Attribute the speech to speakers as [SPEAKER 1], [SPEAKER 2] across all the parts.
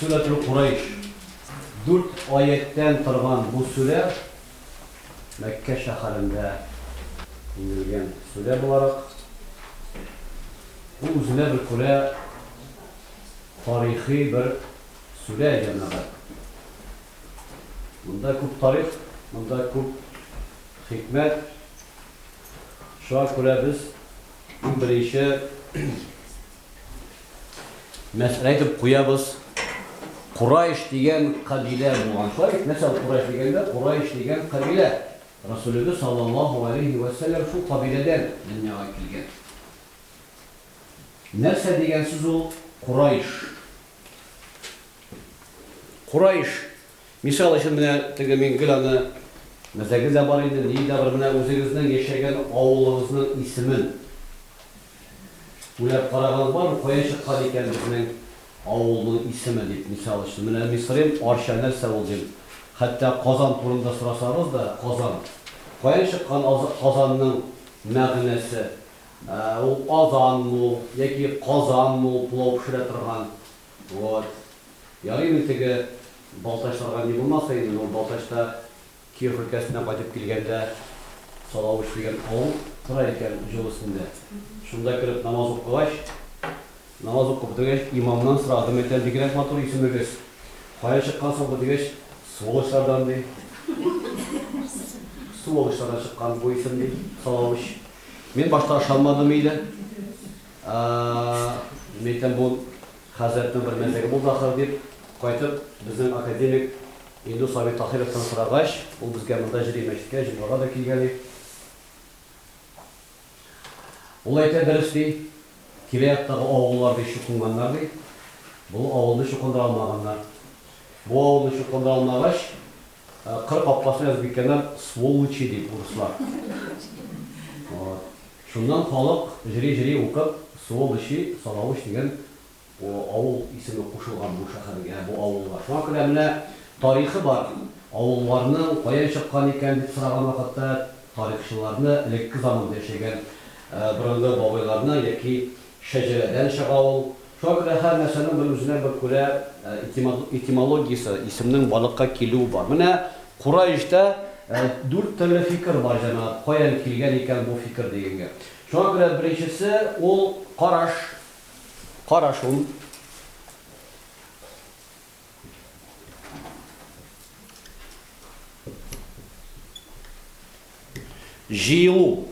[SPEAKER 1] Сүрәтүл Курайш. Дүрт аятьтән торган бу сүрә Мәккә шәһәрендә иңелгән сүрә буларак, бу үзенә бер күрә тарихи бер Сүрә җәмәгать. Монда күп тарих, монда күп хикмәт. Шуңа күрә без иң беренче мәсьәлә итеп куябыз. Курайш дигән кабилә булган. Шулай бит, мәсәл Курайш дигәндә, Курайш дигән кабилә. Расулебез саллаллаһу алейһи вә сәлләм шул кабиләдән дөньяга килгән. Нәрсә дигән сүз ул Курайш? Курайш, мисал өчен, менә теге мин гел аны, мәзәге дә бар иде, ни дә бар, менә үзегезнең яшәгән авылыгызның исемен уйлап карагаыз бармы, кая чыккан икән безнең авылның исеме дип, мисал өчен, менә Мисырим, Арча нәрсә ул дим, хәтта Казан турында сорасагыз да, Казан, каян чыккан Казанның мәгънәсе? Ул Казанмы ул, яки Казанмы ул пылау пешерә торган? Вот. Ярый инде теге Балтачларга ни булмаса инде, бу Балтачта Киров өлкәсеннән кайтып килгәндә Салавыч дигән авыл тора икән җол өстендә. Шунда кереп намаз укыгач, намаз укып бетергәч, имамнан сорадым, әйтәм, бигрәк матур исемегез, каян чыккан соң бу дигәч, сволочлардан ди. Сволочлардан чыккан бу исем ди, Салавыч. Мин башта ышанмадым иде. Мин әйтәм, бу хәзрәтнең бер мәзәге булды ахыр дип, кайтып, безнең академик Илдус абый Таһировтан сорагач, ул безгә монда җыри мәчеткә, җомгага да килгән иде. Ул әйтә, дөрес ди, тирә-яктагы авыллар ди чукынганнар ди, бу авылны чукындыра алмаганнар. Бу авылны чукындыра алмагач, Кыр капкасы Язбикәләр сволочи дип урыслар. Шуннан халык җыри-җыри укып Суолочи, Салавыч дигән авыл исеме кушылган бу шәһәргә, бу авылга. Шуңа күрә менә тарихы бар авылларның каян чыккан икән дип сораган вакытта тарихчыларны элекке заманда яшәгән борынгы бабайларны яки Шәҗәрәдән чыга ул. Шуңа күрә һәр нәрсәнең бер үзенә бер күрә этимологиясе, исемнең барлыкка килүе бар. Менә Кураиштә дүрт төрле фикер бар, җәмәгать, каян килгән икән бу фикер дигәнгә. Шуңа күрә беренчесе ул караш, карашун. Җыелу.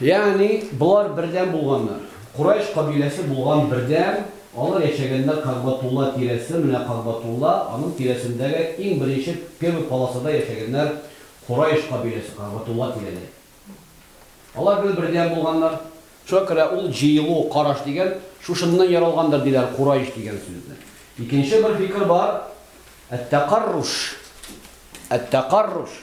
[SPEAKER 1] Ягъни болар бердәм булганнар. Курайш кабиләсе булган бердәм, алар яшәгәннәр Кагъбатулла тирәсе, менә Кагъбатулла, аның тирәсендәге иң беренче первый полосада яшәгәннәр Курайш кабиләсе, Кагъбатулла тирәләре. Алар бер бердәм булганнар, Шуңа күрә ул җыелу, караш дигән, шушыннан яралгандыр, диләр, кураиш дигән сүзне. Икенче бер фикер бар, әт-тәкарруш, әт-тәкарруш.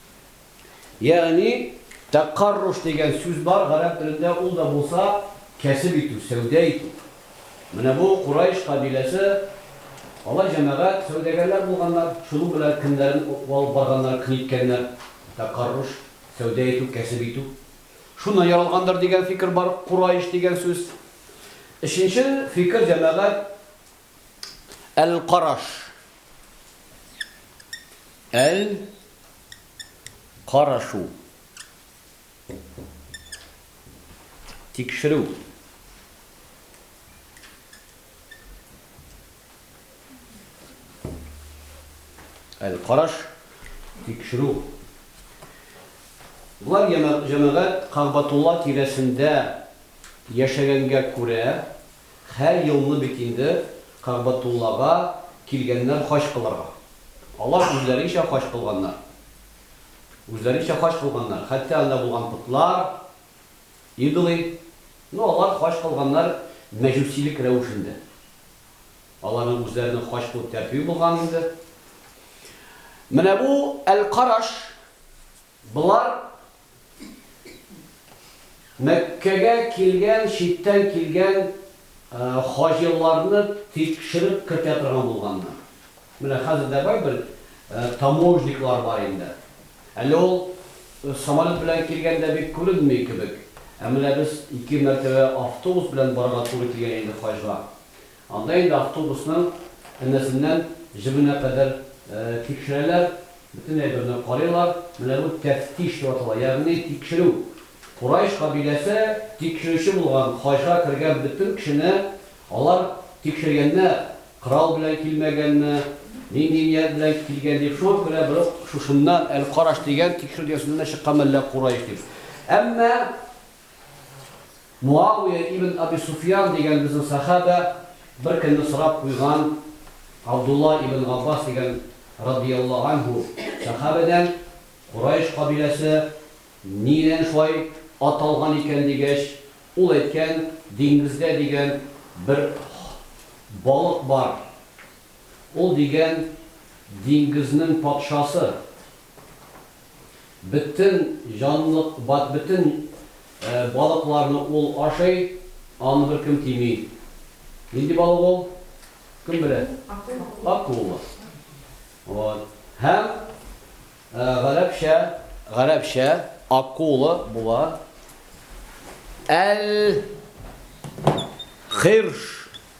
[SPEAKER 1] Ягъни, тәккарруш дигән сүз бар, гарәп телендә ул да булса, кәсеп итү, сәүдә итү. Менә бу Курайш кабиләсе, алар җәмәгать, сәүдәгәрләр булганнар, шуның белән кемнәрен алып барганнар, кнеткәннәр, тәккарруш, сәүдә итү, кәсеп итү. Шуннан яралгандыр дигән фикер бар, Курайш дигән сүз. Өченче фикер, җәмәгать. Әл-караш. Әл-карашу. Тикшерү. Әл-караш. Тикшерү. Болар җәмәгать Кагъбатулла тирәсендә яшәгәнгә күрә, Һәр елны бит инде Кәгъбәтуллага килгәннәр хаҗ кылырга. Алар үзләренчә хаҗ кылганнар. Үзләренчә хаҗ кылганнар. Хәтта анда булган потлар, идолы, ну, алар хаҗ кылганнар мәҗүсилек рәвешендә. Аларның үзләренең хаҗ кылу тәртибе булган инде. Менә бу әл-Караш, болар Мәккәгә килгән читтән килгән хаҗиларны тикшереп кертә торган булганнар. Менә хәзер дә бер таможниклар бар инде. Әле ул самолет белән килгәндә бик күренми кебек, ә менә без ике мәртәбә автобус белән барырга туры килгән инде хаҗга. Анда инде автобусның энәсеннән җебенә кадәр тикшерәләр, бөтен әйберне карыйлар. Менә бу тәфтиш дип атала, ягъни тикшерү. Курайш кабиләсе тикшерүче булган, хаҗга кергән бөтен кешене алар тикшергәннәр, корал белән килмәгәнме, нинди ният белән килгән дип. Шуңа күрә бер үк шушыннан Әл-Караш дигән тикшерү дигән сүзнән дә чыккан мәллә Курайш дип. Әмма. Муавия ибн Аби Суфьян дигән безнең сәхабә беркөнне сорап куйган Абдулла ибн Габбас дигән радыйяллаһу анһу сәхабәдән, Корайш кабиләсе нидән шулай аталган икән, дигәч, ул әйткән, Диңгездә дигән бер балык бар, ул дигән диңгезнең патшасы, Бөтен җанлык, бөтен балыкларны ул ашый, аны беркем тими. Нинди балык ул? Кем белә? Акула. Вот. Һәм гарәпчә, гарәпчә акула була. Әл-хирш.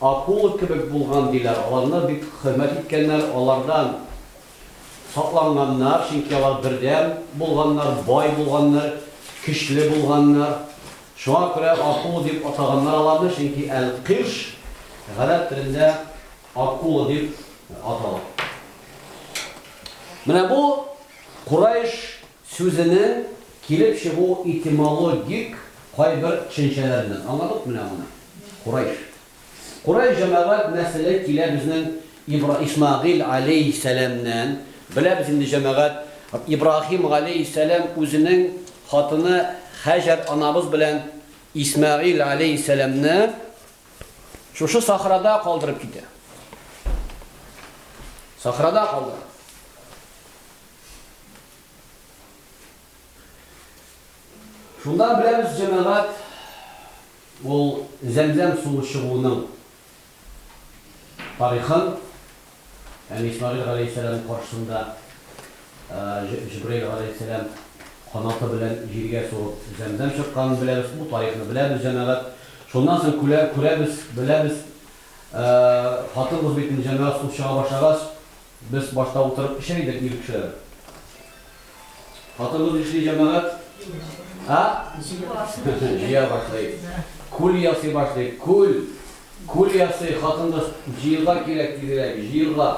[SPEAKER 1] Акула кебек булган, диләр. Аларны бик хөрмәт иткәннәр, алардан сакланганнар, чөнки алар бердәм булганнар, бай булганнар, көчле булганнар. Шуңа күрә акула дип атаганнар аларны, чөнки әл-кирш гарәп телендә акула дип атала. Менә бу Курайш Сүзенең килеп чыгу этимологик кайбер төшенчәләреннән аңладык менә моны. Курайш. Курайш җәмәгать нәселе килә безнең Ибра Исмәгыйль галәйһиссәламнән. Беләбез инде җәмәгать, Ибраһим галәйһиссәлам үзенең хатыны Һәҗәр анабыз белән Исмәгыйль галәйһиссәламне шушы сахрада калдырып китә. Сахрада калдыра. Шуннан беләбез, җәмәгать, ул Зәмзәм суы чыгуының тарихын, ягъни Исмәгыйль галәйһиссәлам каршысында Җибраил галәйһиссәлам канаты белән җиргә сугып Зәмзәм чыкканын беләбез, бу тарихны беләбез, җәмәгать. Шуннан соң күрәбез, беләбез, хатын-кыз битен, җәмәгать, су чыга башлагач, Без башта утырып эчә идек, ир кешеләр. Хатыныбыз эшли, җәмәгать. А? Җыя башлый. Күл ясый башлый. Күл. Күл ясый. Хатыныбыз җыерга кирәк тизрәк, җыерга.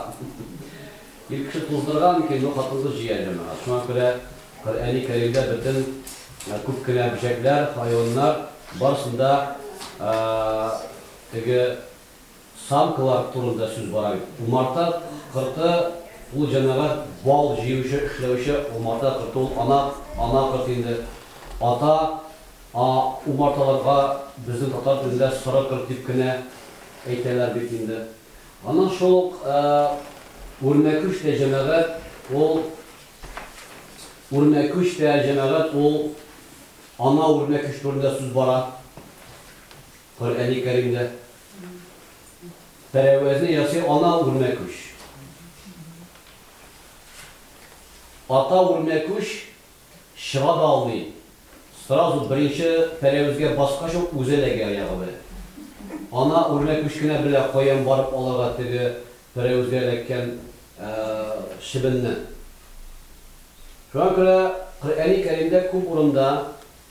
[SPEAKER 1] Ир кеше туздырган микән, юк, хатыныбыз җыя, җәмәгать. Шуңа күрә Коръәни Кәримдә бөтен күп кенә бөҗәкләр, хайваннар барсын да теге Самкалар турында сүз бара бит. Умарта корты ул җәмәгать бал җыючы, эшләүче умарта корты ул ана, ана корт инде. Ата, а умарталарга безнең татар телендә соры корт дип кенә әйтәләр бит инде. Аннан шул ук үрмәкүч тә җәмәгать ул үрмәкүч тә җәмәгать ул ана үрмәкүч турында сүз бара. Коръәни Кәримдә пәрәвәзне ясый Ана үрмә күч. Ата үрмә күч чыга да алмый, сразу беренче пәрәвезгә баскач ук үзе эләгә аягы белән. Ана үрмә күч кенә белә каян барып алырга теге пәрәвезгә эләккән чебенне. Шуңа күрә Коръәни Кәримдә күп урында.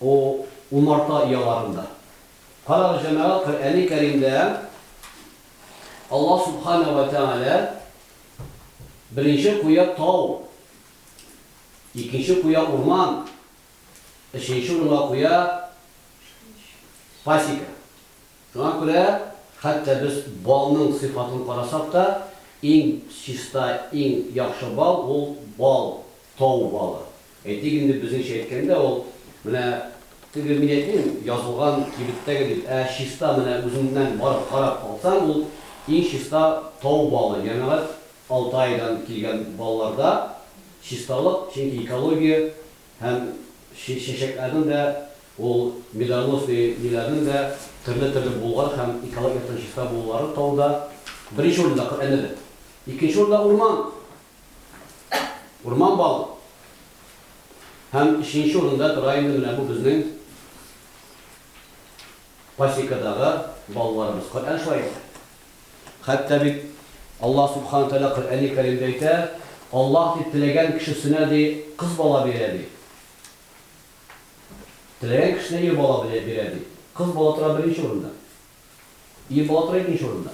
[SPEAKER 1] О, умарта ояларында. Карагыз, җәмәгать, Коръәни Кәримдә Аллаһ Сүбхәнәһү вә Тәгалә беренче куя тау, икенче куя урман, өченче урынга куя пасека. Шуңа күрә, хәтта без балның сыйфатын карасак та, иң чиста, иң яхшы бал ул бал, тау балы. Әйтик инде, безнеңчә әйткәндә, ул менә теге мин әйтмим, язылган кибеттәге дип, ә чиста менә үзеңнән барып карап алсаң, ул иң чиста тау балы, Җәмәгать Алтайдан килгән балларда чисталык, чөнки экология һәм чәчәкләрнең дә, ул медоносный ниләрнең дә төрле-төрле булулары һәм экология яктан чиста булулары тауда беренче урында, Коръәндә дә. Икенче урында урман, Урман балык. Һәм өченче урында тора инде менә бу безнең пасекадагы балаларыбыз. Коръән шулай әйтә. Хәтта бит Аллаһ Субхана Тәгалә Коръәни Кәримдә әйтә, Аллаһ ди теләгән кешесенә ди кыз бала бирә ди. Теләгән кешесенә ир бала бирә ди. Кыз бала тора беренче урында. Ир бала тора икенче урында.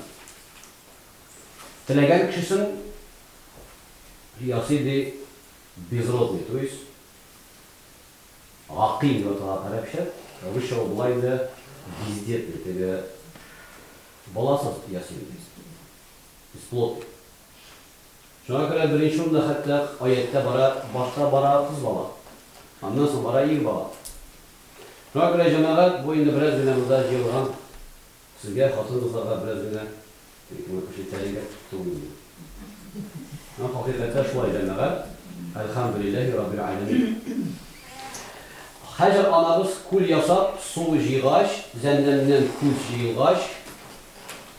[SPEAKER 1] Теләгән кешесен ясый, ди, безродный, то есть гакыйм дип атала гарәпчә, русча ул болай инде, бездетный, теге баласыз ясыйм, бесплодный. Шуңа күрә беренче урында хәтта аятьтә бара, башта бара кыз бала, аннан соң бара ир бала. Шуңа күрә, җәмәгать, бу инде бераз генә монда җыелган сезгә, хатын-кызларга бераз генә ишетәлегер түгелме бу? Һәм хакыйкатьтә шулай, җәмәгать, әлхәмдүлилләһи раббил галәмин. Хаҗәр анабыз күл ясап, су җыйгач, Зәмзәмнән күз җыелгач,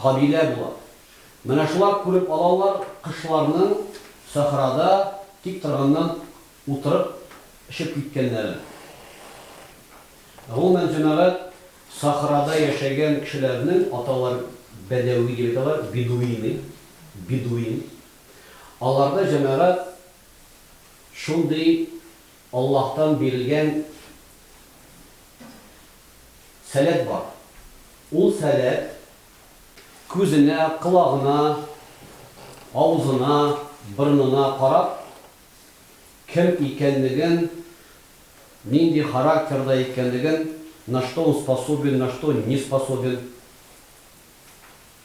[SPEAKER 1] кабилә була. Менә шулар күреп алалар кошларның сахрада тик торганнан утырып очып киткәннәрен. Гомумән, җәмәгать сахрада яшәгән кешеләрнең аталар бәдәви дип әйтәләр, бедуины, бедуин. Аларда җәмәгать шундый Аллаһтан бирелгән сәләт бар. Ул сәләт күзенә, колагына, авызына, борынына карап, кем икәнлеген, нинди характерда икәнлеген, на что он способен, на что не способен,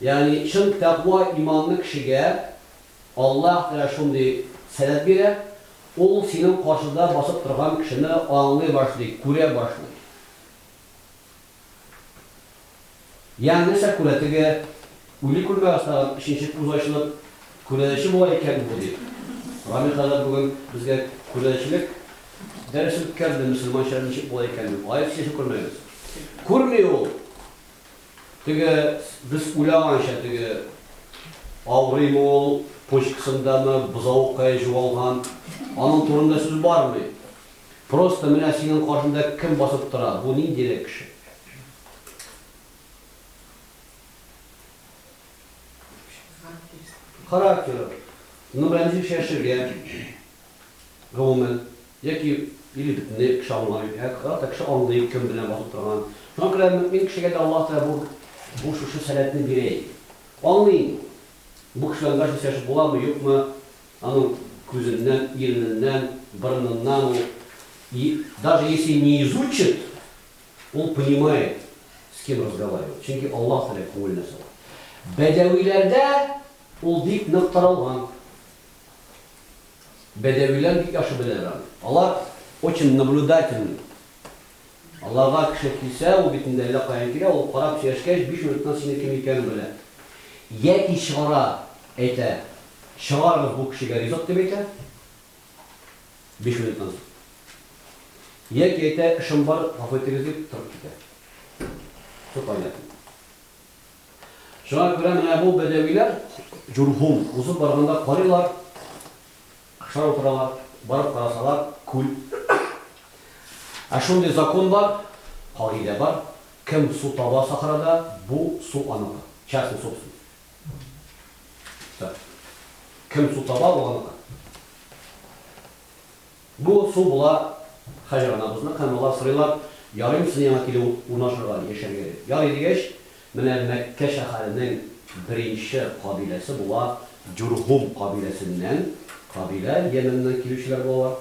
[SPEAKER 1] Ягъни чын тәкъва иманлы кешегә Аллаһ Тәгалә шундый сәләт бирә, ул синең каршыда басып торган кешене аңлый башлый, күрә башлый. Ягъни нәрсә күрә, теге үли күрмәгез тагын, өченче күз ачылып, күрәзәче була икән бу, дип. Рамил хәзрәт бүген безгә күрәзәчелек дәресе үткәрде, мөселманча ничек була икән, дип. Гаепсез яшәп күрмәгез. Күрми ул. Теге, без уйлаганча теге, авырыймы ул, почкасындамы бозаукае җуалган, аның турында сүз бармый. Просто менә синең каршыңда кем басып тора, бу ниндирәк кеше? Характеры. Характеры. Ну белән ничек чәшергә? гомумән, яки, или бөтенләй кеше аңламый, ә гата кеше аңлый, кем белән басып торганын. Шуңа күрә мөэмин кешегә дә Аллаһ Тәгалә бу, бу шушы сәләтне бирә иде. Аңлый инде ул. Бу кеше белән дөрес яшәшеп буламы, юкмы, аның күзеннән, ирененнән, борыныннан ул, и даже если не изучит, ул понимает, с кем разговаривать, чөнки Аллаһ Тәгалә күңеленә сала. Бәдәвиләрдә ул бик нык таралган. Бәдәвиләр бик яхшы беләләр аны. Алар очень наблюдательный. Аларга кеше килсә, ул бит инде әллә каян килә, ул карап сөйләшкәч, биш минуттан синең кем икәнен белә. Яки чыгара, әйтә, Чыгарыгыз бу кешегә ризык, дип әйтә, биш минуттан соң. Яки әйтә, Эшем бар, гафу итегез, дип торып китә. Все понятно. Шуңа күрә менә бу бәдәвиләр Җурһум узып барганда карыйлар, шар утыралар, барып карасалар, күл. Ә шундый закон бар, кагыйдә бар, кем су таба сахрада, бу су аныкы, частная собственность. Кем су таба, ул аныкы. Бу су була Хаҗа анабызның һәм алар сорыйлар, Ярыймы сине яңа килеп урнашырга, яшәргә? дип. Ярый дигәч, менә Мәккә шәһәренең беренче кабиләсе була Җурһум кабиләсеннән кабилә, Йәмәннән килүчеләр булалар.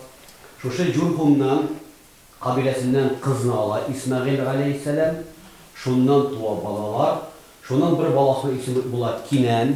[SPEAKER 1] Шушы Җурһумнан кабиләсеннән кызны ала Исмәгыйль галәйһиссәлам, шуннан туа балалар, шуның бер баласының исеме була Кинән,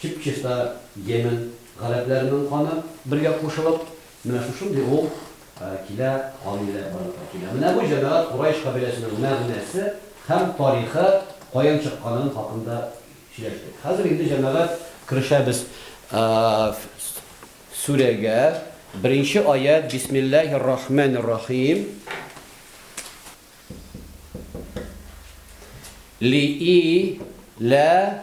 [SPEAKER 1] чып-чиста Йемен гарәпләренең каны бергә кушылып, менә шушындый ул килә, кан иләп барлыкка килә. Менә бу җәмәгать Курайш кабиләсенең мәгънәсе һәм тарихы каян чыкканын хакында сөйләштек. Хәзер инде җәмәгать керешәбез сүрәгә. Беренче аять, Бисмиллаһир рахманир рахим. Ли и лә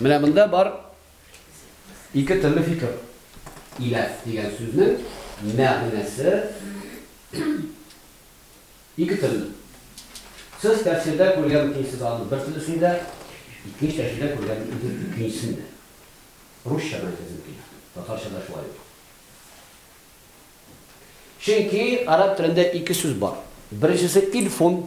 [SPEAKER 1] Менә монда бар ике төрле фикер. Иләс дигән сүзнең мәгънәсе ике төрле. Сез тәфсирдә күргән икенчесез аны бер төрлесен дә, икенче тәфсирдә күргән икенчесен дә. Русча гына әйтәсем килә. Татарча да шулай ук. Чөнки араб телендә ике сүз бар. Беренчесе ильфун,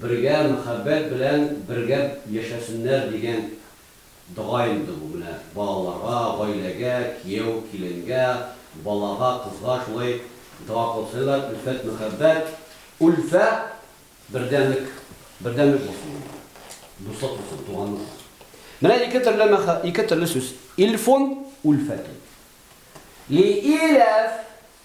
[SPEAKER 1] Бергә мәхәббәт белән бергә яшәсеннәр дигән дога инде бу, менә балаларга, гаиләгә, кияү, киленгә, балага, кызга шулай дога кылсалар, өлфәт, мәхәббәт, ульфә, бердәмлек, бердәмлек булсын монда, дуслык булсын, туганлык булсын. Менә ике төрле мәхә, ике төрле сүз, илфун, ульфәтун. Лииләф,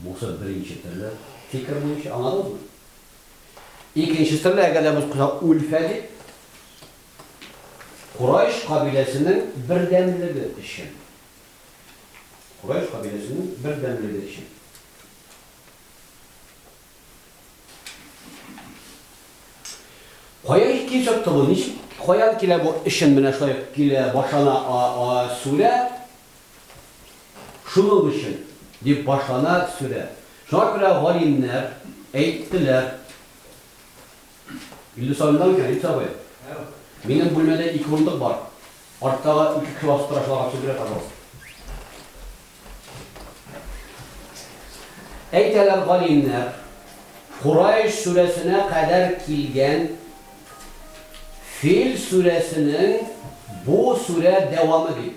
[SPEAKER 1] Бусы беренче төрле фикер буенча, аңладыгызмы? Икенче төрле, әгәр дә без куйсак, Ульфә дип, Курайш кабиләсенең бердәмлеге өчен. Курайш кабиләсенең бердәмлеге өчен. Кая килеп чыкты бу? Ничек, каян килә бу эшен менә шулай килә, башана а, а, сүлә, Шуның өчен, дип башлана сүрә. Шуңа күрә галимнәр әйттеләр. Илдус абый мондамы икән, Илдус абый? Минем бүлмәдә ике урындык бар. Арттагы ике кеше басып тора, шуларга төшеп бирә, пожалуйста. Әйтәләр галимнәр, Курайш сүрәсенә кадәр килгән Фил сүрәсенең бу сүрә дәвамы дип.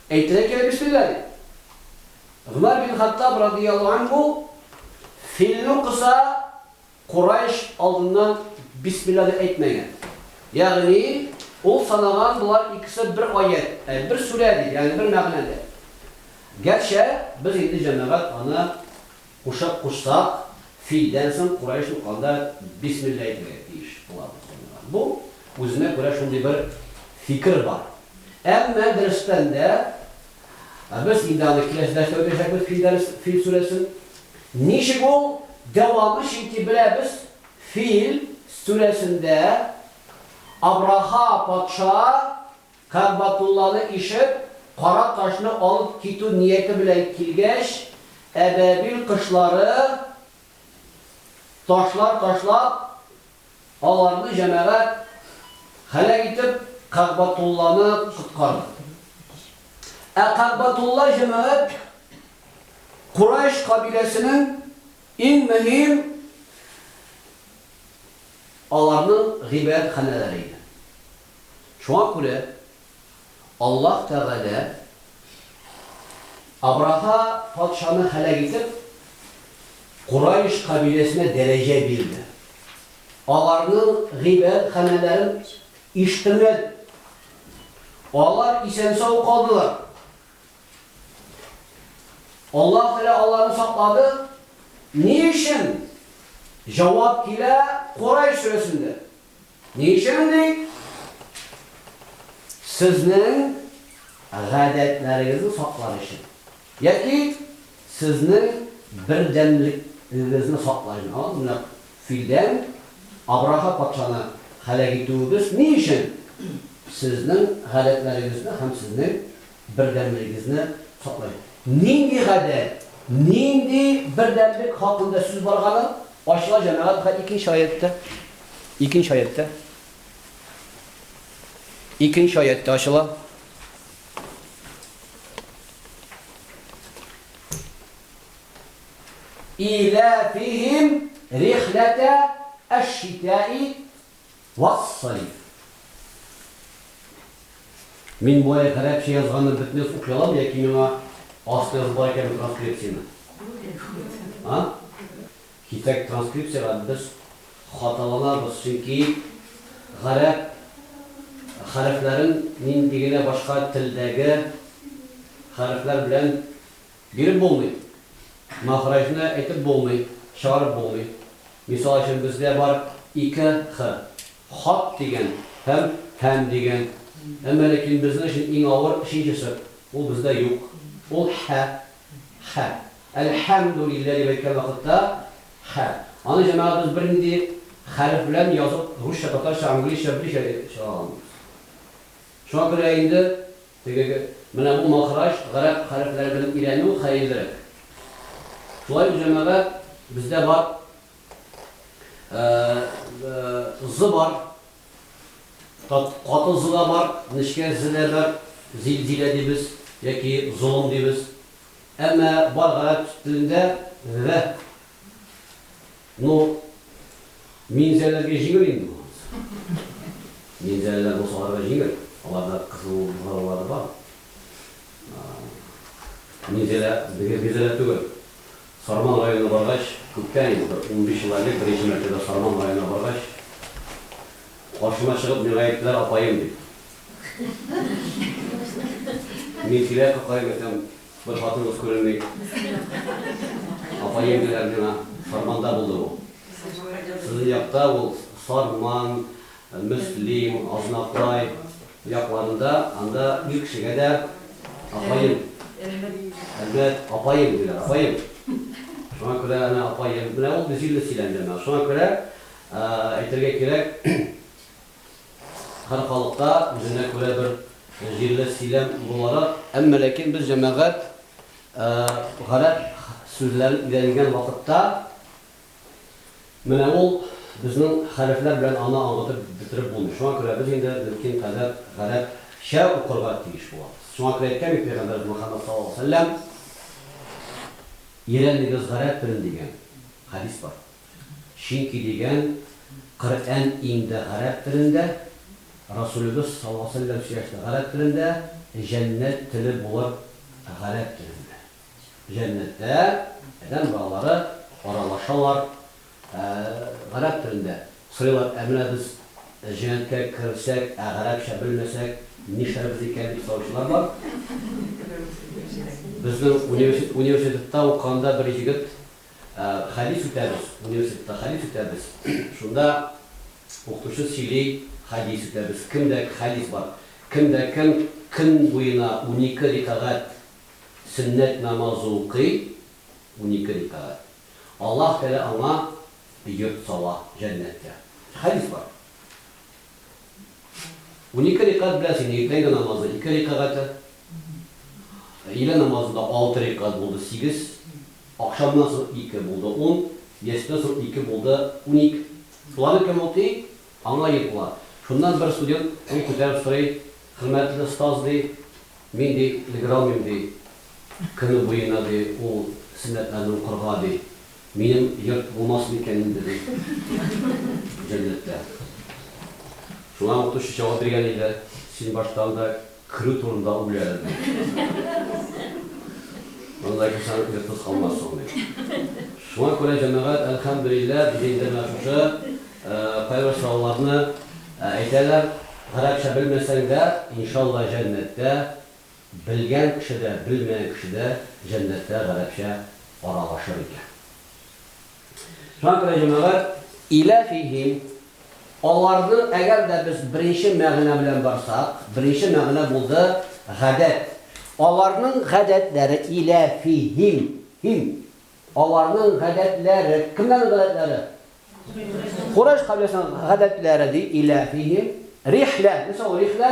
[SPEAKER 1] Әйтергә кирәк бисмиллаһи. Гомәр бин Хаттаб радияллаһу анһу филне укыса, Курайш алдыннан бисмиллаһи әйтмәгән. Ягъни, ул санаган болар икесе бер аять, ә бер сүрә дип, ягъни бер мәгънәдә. Гәрчә без инде җәмәгать аны. Кушак кушсак, филдән соң курай сукканда бисмилла әйтергә тиеш булабыз, дигән. Бу, үзенә күрә шундый бер фикер бар. Әмма, дөрестән дә, без инде аны киләсе дәрестә үтәчәкбез, филдән, фил сүрәсен. Ничек ул дәвамы, чөнки беләбез, фил сүрәсендә Абраха патша Кәгъбәтулланы ишеп, кара ташны алып китү нияте белән килгәч, әбәбил кошлары ташлар ташлап, аларны җәмәгать һәлак итеп, Кәгъбәтулланы коткарды. Ә Кәгъбәтулла җәмәгать Курайш кабиләсенең иң мөһим аларның гыйбадәтханәләре иде. Шуңа күрә Аллаһ Тәгалә Абраһа патшаны һәлак итеп, Курайш кабиләсенә дәрәҗә бирде. Аларның гыйбадәтханәләрен ишеттермәде. Алар исән-сау калдылар. Аллаһ Тәгалә аларны саклады. Ни өчен? Җавап килә Курайш сүрәсендә. Ни өчен ди? Сезнең гадәтләрегезне саклар өчен. Яки сезнең бердәмлегегезне саклар өчен. Аңладыңызмы? Менә филдән Абраха патшаны һәлак итүебез ни өчен? Сезнең гадәтләрегезне һәм сезнең. Бердәмлегегезне саклыйк. Нинди гадәт, нинди бердәмлек хакында сүз барганын ачыла Җәмәгать хәл икенче аятьтә. Икенче аятьтә. Икенче аятьтә ачыла. Иләфихим рихләтә әш-шитәи Вассалиф. Мин болай гарәпчә язганны бөтнес укый алам яки миңа аста язып бар икәнме транскрепцияне? А? Китәк транскрепциягә без хаталанабыз, чөнки гарәп хәрефләрен нинди генә башка телдәге хәрефләр белән Биреп булмый. Мәхрәҗне әйтеп булмый, чыгарып булмый. Мисал өчен, бездә бар ике х, хат дигән һәм һәм дигән. Әмма ләкин безнең өчен иң авыр өченчесе, ул бездә юк. Ул һә, хә. Әлхәмдүлиллә дип әйткән вакытта, хә. Аны җәмәгатебез бернинди хәреф белән язып, русча, татарча, английча, берничә чыгара алмыйбыз. Шуңа күрә инде Теге, менә бу махраҗ, гарәп хәрефләре белән өйрәнү хәерлерәк. Шулай ук җәмәгать, бездә бар З бар, каты З да бар, нечкә З дә бар, зилзилә дибез яки золым дибез. Әмма бар гарәп телендә Г Ну, минзәләргә җиңел инде бу. Минзәләләр бусагарга җиңел. Аларда кызыл бозаулары бар. Минзәлә безгә минзәлә түгел. Сарман районына баргач, күптән инде, бер 15 ел элек беренче мәртәбә Сарман районына баргач, каршыма чыгып миңа әйттеләр, апаем, дип. Мин килә капкаем әйтәм, Бер хатыныгыз күренми. Апа еңгәләр миңа Сарманда булды бу. Сезнең якта ул Сарман, Мөслим, Азнакай якларында, анда ир кешегә дә апаем, Әлмәт апаем диләр, апаем. Шуңа күрә әнә апаем. Менә ул җилле сөйләм, җаннар. Шуңа күрә әйтергә кирәк, Һәр халыкта үзенә күрә бер җирле сөйләм буларак. Әмма ләкин без җәмәгать гарәп сүзләрен өйрәнгән вакытта, менә ул безнең хәрефләр белән аны аңлатып бетереп булмый. Шуңа күрә без инде мөмкин кадәр гарәпчә укырга тиеш булабыз. Шуңа күрә әйткән бит пәйгамбәребез Мөхәммәд саллаллаһу алейһи ва сәлләм, Өйрәнегез гарәп телен дигән хәдис бар. Чөнки дигән, Коръән инде гарәп телендә, Расулебез саллаллаһу галәйһи вә сәлләм сөйләште гарәп телендә, җәннәт теле булыр гарәп телендә. Җәннәттә адәм балалары аралашалар гарәп телендә. Сорыйлар, ә менә без җәннәткә керсәк, ә гарәпчә белмәсәк, нишләрбез икән, дип сораучылар бар. Безнең университетта укыганда бер җегет Хәдис үтәбез, университетта хәдис үтәбез, шунда укытучы сөйли, хәдис үтәбез, кемдә хәдис бар, кемдә кем көн буена унике рикагать сөннәт намазы укый, унике рикагать, Аллаһ Тәгалә аңа йорт сала җәннәттә. Хәдис бар. Унике рикәгать беләсеңме, иртәнге намазы ике рикәгате, өйлә намазы да алты рикәгать булды, сигез, ахшамнан соң ике булды, ун, ястүдән соң ике булды, уник. Шуларны кем укый, аңа ир була. Шуннан бер студент кул күтәреп сорый, Хөрмәтле остаз, ди, мин, ди, өлгерә алмыйм, ди, көне буена, ди, ул сөннәтләрне укырга, ди. Минем йорт булмас микән инде бу җәннәттә? Шуңа укытучы җавап биргән иде, Син башта анда керү турында уйла әле, ди. Анда керсәң, йортсыз калмассың, ди. Шуңа күрә, җәмәгать, әлхәмдүлилләһ, диде инде менә шушы кайбер сорауларны әйтәләр. Гарәпчә белмәсәң дә, иншалла, җәннәттә Белгән кеше дә, белмәгән кеше дә җәннәттә гарәпчә аралашыр икән. Шуңа күрә, җәмәгать, илә фиһим, аларның, әгәр дә без беренче мәгънә белән барсак, беренче мәгънә булды, гадәт. Аларның гадәтләре, илә фиһим, һим, аларның гадәтләре, кемнәрнең гадәтләре? Курайш кабиләсенең гадәтләре, ди, илә фиһим, рихлә, нәрсә ул рихлә?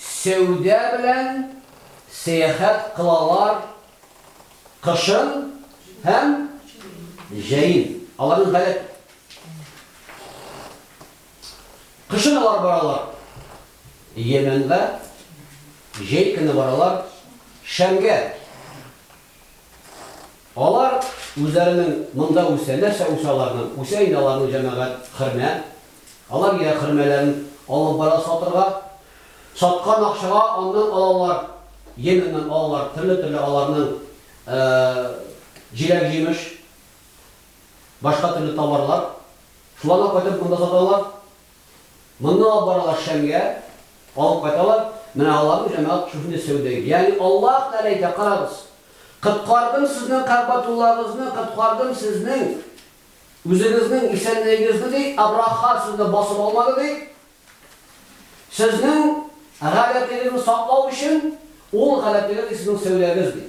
[SPEAKER 1] Сәүдә белән сәяхәт кылалар кышын һәм җәен. Аларның гадәт Кышын алар баралар Йәмәнгә, җәй көне баралар Шәмгә. Алар үзләренең монда үсә, нәрсә үсә аларның, үсә инде аларның җәмәгать, хөрмә. Алар йә хөрмәләрен алып бара сатырга, саткан акчага аннан алалар, Йеменнән алалар төрле-төрле аларның җиләк-җимеш, башка төрле товарлар. Шуларны кайтарып монда саталар, Моннан алып баралар Шәмгә, алып кайталар, менә аларның җәмәгать шушындый сәүдәгә. Ягъни Аллаһ Тәгалә әйтә, Карагыз, коткардым сезнең Кәгъбәтуллагызны, коткардым сезнең үзегезнең исәнлегегезне, ди, Абраха сезне басып алмады, ди. Сезнең гадәтегезне саклау өчен, ул гадәтегез, ди, сезнең сәүдәгез, ди.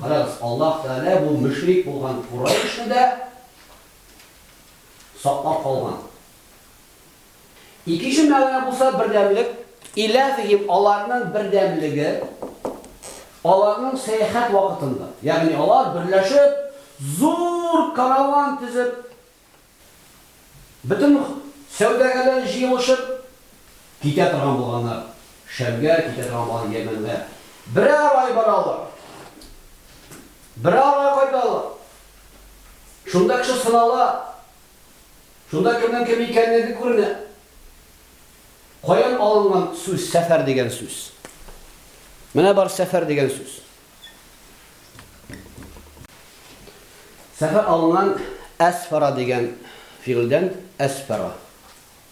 [SPEAKER 1] Карагыз, Аллаһ Тәгалә бу мөшрик булган Курайшны да, саклап калган. Икенче мәгънә булса бердәмлек, иләфехим аларның бердәмлеге, аларның сәяхәт вакытында, ягъни алар берләшеп, зур караван тезеп, бөтен сәүдәгәрләр җыелышып китә торган булганнар, Шәмгә китә торган булган Йәмәнгә. Берәр ай баралар. Берәр ай кайталар. Шунда кеше сынала. Шунда кемнең кем икәнлеге күренә. Каян алынган сүз, сәфәр дигән сүз? Менә бар сәфәр дигән сүз. Сәфәр алынган әсфара дигән фигыльдән әсфара.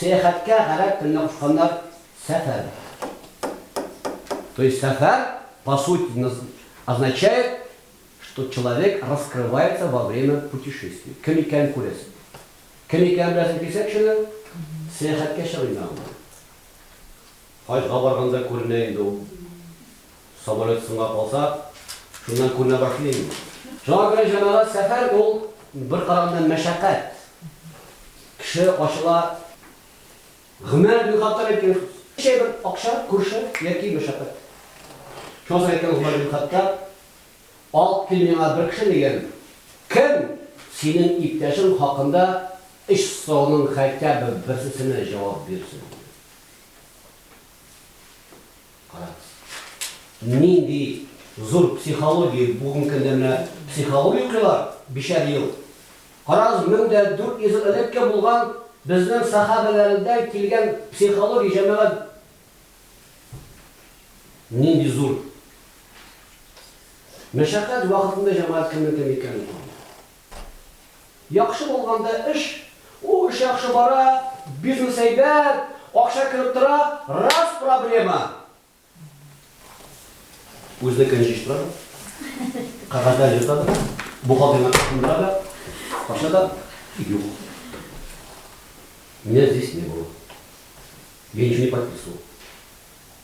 [SPEAKER 1] Сәяхәткә гарәп теленә кушканнар сәфәр. То есть сәфәр по сути наз означает, что человек раскрывается во время путешествия. Кем икәнен күрәсең. Кем икәнен беләсең килсә кешенең, сәяхәткә чыгыйм мин аңа. Хаҗга барганда күренә инде ул. Самолет соңга калса, шуннан күренә башлый инде ул. Шуңа күрә җәмәгать сәфәр ул бер караганда мәшәкать. Кеше ачыла, гомәр бин Хаттаб әйткән сүз. Чәй бер акча, күрше яки мәшәкать. Шуңа соң әйткән Гомәр бин Хаттаб, Алып кил миңа бер кеше, дигән, кем синең иптәшең хакында өч сорауның хәйтәбе берсесенә җавап бирсен, дигән. Кара. Нинди зур психология, бүген көндә менә психология укыйлар, бишәр ел. Карагыз, мең дә дүрт йөз ел элекке булган безнең сахабәләрдән килгән психология, җәмәгать. Нинди зур мәшәкать вакытында җәмәгать кемнең кем икәнен Яхшы булганда эш, ул эш яхшы бара, бизнес әйбәт, акча кереп тора, раз проблема. Үзенекен җыештыра да, кәгазьләр йота да, бухгалтерны кычкындыра да, кача да, юк. Меня здесь не было. Я ничего не подписывал.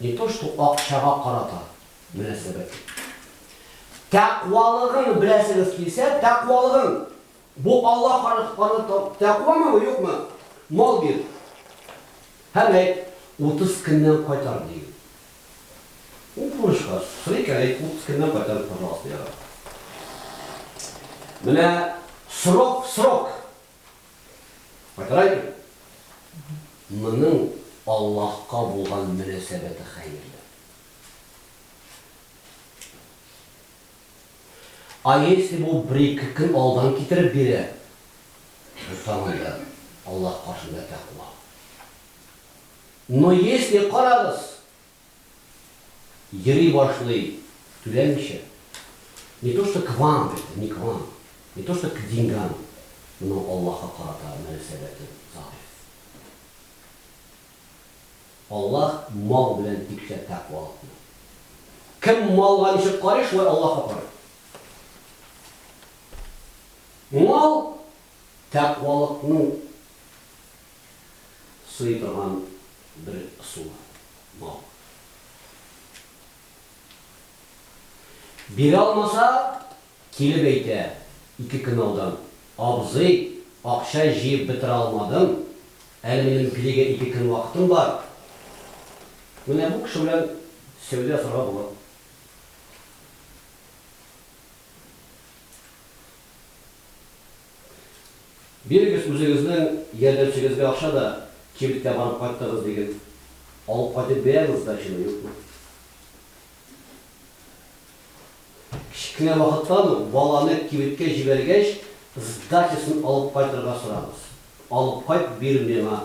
[SPEAKER 1] Не то что акчага карата мөнәсәбәт. Тәкъвалыгың беләсегез килсә, тәкъвалыгың. Бу Алла каратканы тәкъвамы, юкмы? Мал бир. Һәм әйт, 30 көннән кайтар, ди. Ул бурычка сорый икән, әйт, 30 көннән кайтар, пожалуйста, ярар. Менә срок, срок. Кайтарайбы? Моның Аллаһка булган мөнәсәбәте хәерле. А если бу бер-ике көн алдан китереп бирә, без тагын да Аллаһ каршында тәкъва. Но если, карагыз, йөри башлый түләмичә, не то что к вам, это не к вам, не то что к деньгам, но Аллаһка карата мөнәсәбәте заыйф. Аллаһ мал белән тикшә тәкъвалыкны. Кем малга ничек карый, шулай Аллаһка карый. Мал тәкъвалыкның сый торган бер ысулы, бал. Бирә алмаса, килеп әйтә, ике кнаудан, Абзый, акча җыеп бетерә алмадым, әле минем пилигә ике көн вакытым бар. Менә бу кеше белән сәүдә ясарга була. Бирегез үзегезнең ярдәмчегезгә акча да, кибеткә барып кайттыгыз диген, алып кайтып бирәбез сдачаны, юкмы? Кечкенә вакыттан ук баланы кибеткә җибәргәч, сдачасын алып кайтырга сорагыз. Алып кайт, бир миңа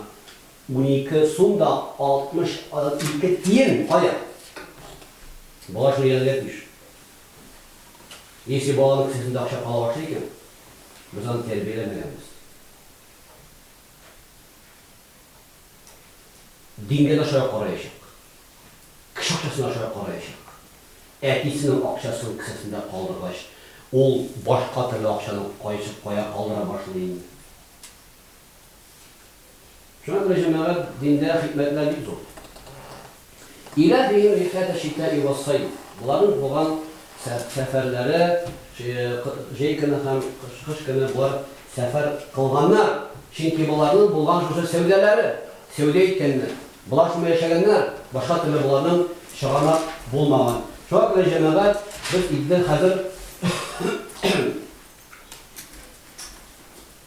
[SPEAKER 1] унике сум да 62 тиен, кая? Бала шуны өйрәнергә тиеш. Если баланың кесәсендә акча кала башлый икән, без аны тәрбияләмәгәнбез. Дингә дә шулай караячак. Кеше акчасына шулай караячак. Әтисенең акчасын кесәсендә калдыргач, ул башка төрле акчаны кайсы кая калдыра башлый инде. Шуңа күрә, җәмәгать, диндә хикмәтләр бик зур. Илә бигем рифката чита и вассаид. Боларның булган сәфәрләре, җәй көне һәм кыш көне болар сәфәр кылганнар, чөнки боларның булган шушы сәүдәләре, сәүдә иткәннәр. Болар шуны яшәгәннәр, башка төрле боларның чыганак булмаган. Шуңа күрә, җәмәгать, без илдә хәзер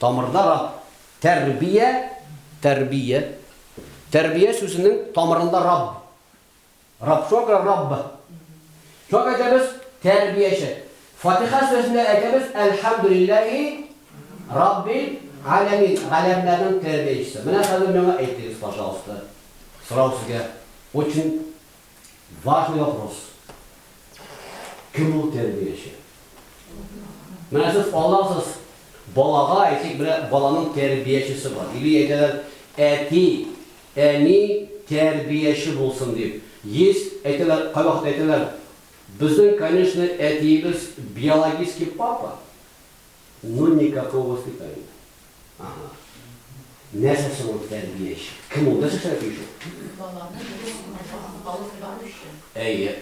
[SPEAKER 1] Тамырда раб, тәрбия, тәрбия, тәрбия сүзенең тамырында раб. Раб, шуңа күрә рабб. Шуңа күрә әйтәбез, тәрбияче. Фатиха сүрәсендә әйтәбез, әлхәмдүлилләһи раббил галәмин, галәмнәрнең тәрбиячесе. Менә хәзер миңа әйтегез, пожалуйста, сорау сезгә, очень Важный вопрос. Кем ул тәрбияче? Менә сез аласыз балага, әйтик, менә баланың тәрбиячесе бар. Или әйтәләр, әти, әни тәрбияче булсын дип. Есть, әйтәләр, кайвакыт әйтәләр, безнең, конечно, әтиебез биологический папа. Ну никакого воспитания. Ага. Нәрсә соң ул тәрбияче? Кем ул? Нәрсә эшләргә тиеш ул? Баланы дөрес юлга алып баручы. Әйе.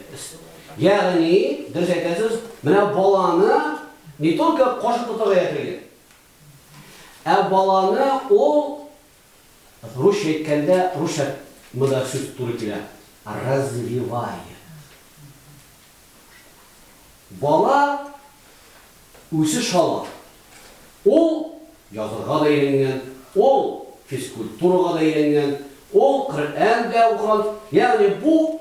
[SPEAKER 1] Ягъни, дөрес әйтәсез, менә баланы не только кошык тотарга яшерген, ә баланы ул Русча әйткәндә, русча монда сүз туры килә, развивая. Бала үзе шала. Ул язырга да өйрәнгән, ул физкультурага да өйрәнгән, ул Коръән дә укыган. Ягъни бу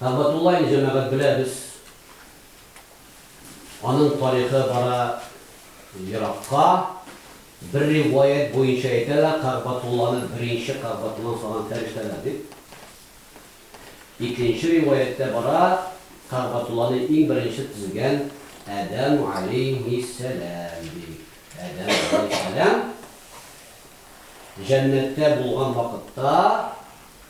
[SPEAKER 1] Тәбатуллаин җәмәгать беләбез. Аның тарихы бара еракка. Бер риваять буенча әйтәләр, Кәгъбәтулланы беренче Кәгъбәтулланы салган фәрештәләр дип. Икенче риваятьтә бара, Кәгъбәтулланы иң беренче төзегән Адәм галәйһиссәлам ди. Адәм галәйһиссәлам җәннәттә булган вакытта,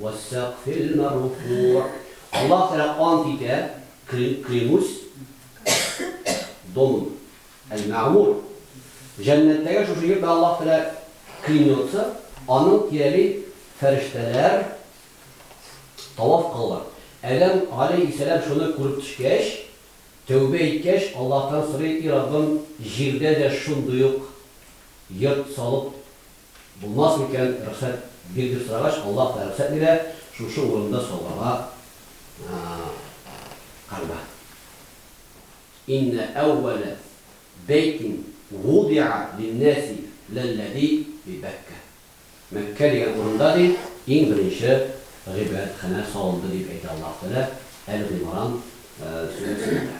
[SPEAKER 1] Вәссәкфилмәрфугъ. Аллаһ Тәгалә ант итә, клянусь домом әл-мәгъмур. Җәннәттәге шушы йорт белән Аллаһ Тәгалә клянется, аның тирәли фәрештәләр таваф кылалар. Адәм галәйһиссәлам шуны күреп төшкәч, тәүбә иткәч, Аллаһтан сорый, И Раббым, җирдә дә шундый ук йорт салып Булмас микән, рөхсәт бир дип сорагач, Аллаһ та рөхсәт бирә, шушы урында сауларга Кәгъбә. Иннә әүвәлә бәйтин вудиа линнәси ләлләзи би Бәккә. Мәккә дигән урында, ди, иң беренче гыйбадәтханә салынды, дип әйтә Аллаһ Тәгалә Әл-Гыймран сүрәсендә.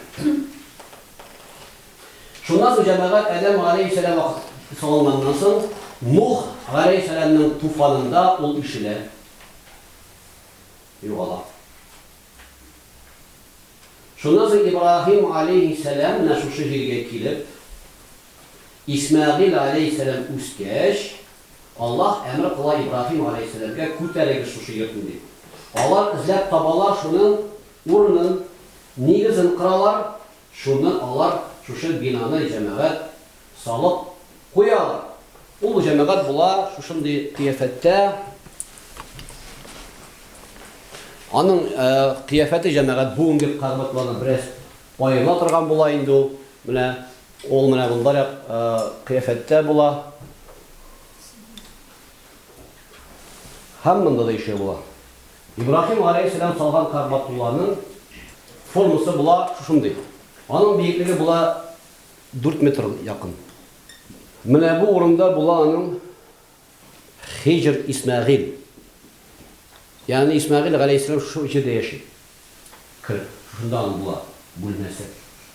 [SPEAKER 1] Шуннан соң җәмәгать Адәм галәйһиссәлам вакыт салынганнан соң, Нух галәйһиссәламның туфанында ул ишелә, югала. Шуннан соң Ибраһим галәйһиссәлам менә шушы җиргә килеп, Исмәгыйль галәйһиссәлам үскәч, Аллаһ әмер кыла Ибраһим галәйһиссәламгә, Күтәрегез шушы йортны, дип. Алар эзләп табалар шуның урынын, нигезен кыралар, Шуннан алар шушы бинаны җәмәгать салып куялар. Ул җәмәгать була шушындый кыяфәттә. Аның кыяфәте җәмәгать бүгенге кагбәтлардан бераз аерыла торган була инде ул. Менә ул менә мондайрак кыяфәттә була. Һәм монда да ишеге була. Ибраһим галәйһиссәлам салган Кәгъбәтулланың формасы була шушындый. Аның биеклеге була дүрт метр якын. Менә бу урында була аның Хиҗр Исмәгыйль. Ягъни Исмәгыйль галәйһиссәлам шушы җирдә яши. Кер, шушында аның була бүлмәсе.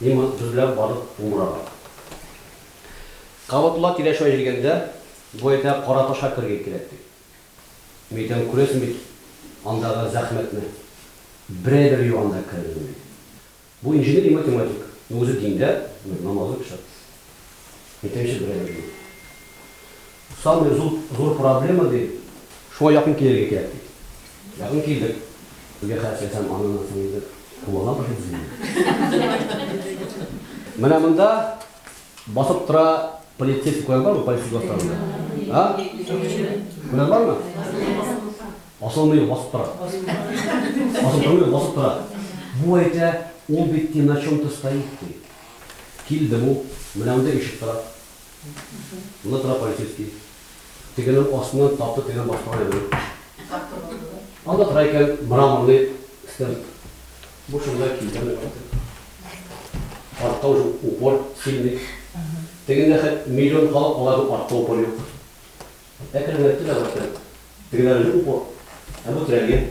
[SPEAKER 1] Мин дөрләп барып умырабрак. Кабатулла киләшә җигәндә, бу әйтә, Кара ташка керергә кирәк, ди. Мин әйтәм, күрәсең бит андагы зәхмәтне. Берәй бер юан да керә белми. Бу инженер и математик, но үзе диндә, намазлы кеше. Әйтәм, чы берәй бер юан. Самый зур зур проблема ди. Шуңа якын килергә кирәк ди. Якын килдек. Безгә хәл итсәм, аннан соң инде кулланабыз бит без инде. Менә монда басып тора полицейскийлар бармы, полиция бастарында? А? Менә бармы? Асылмый басып тора. Басып тормый, басып тора. Бу әйтә, ул бит на чем-то стоит ди. Килде бу, менә монда ишек тора. Монда тора полицейский. Тегенең астыннан тапты, тегенең башкарган әйберен. Анда тора икән мраморный стенд. Бу шунда килгән икән. Артта уже упор сильный. Тегендә хәт миллион халык алар дип артта упор юк. Әкренләп тирә башлады. Тегеләр упор. Ә бу тирәлгән.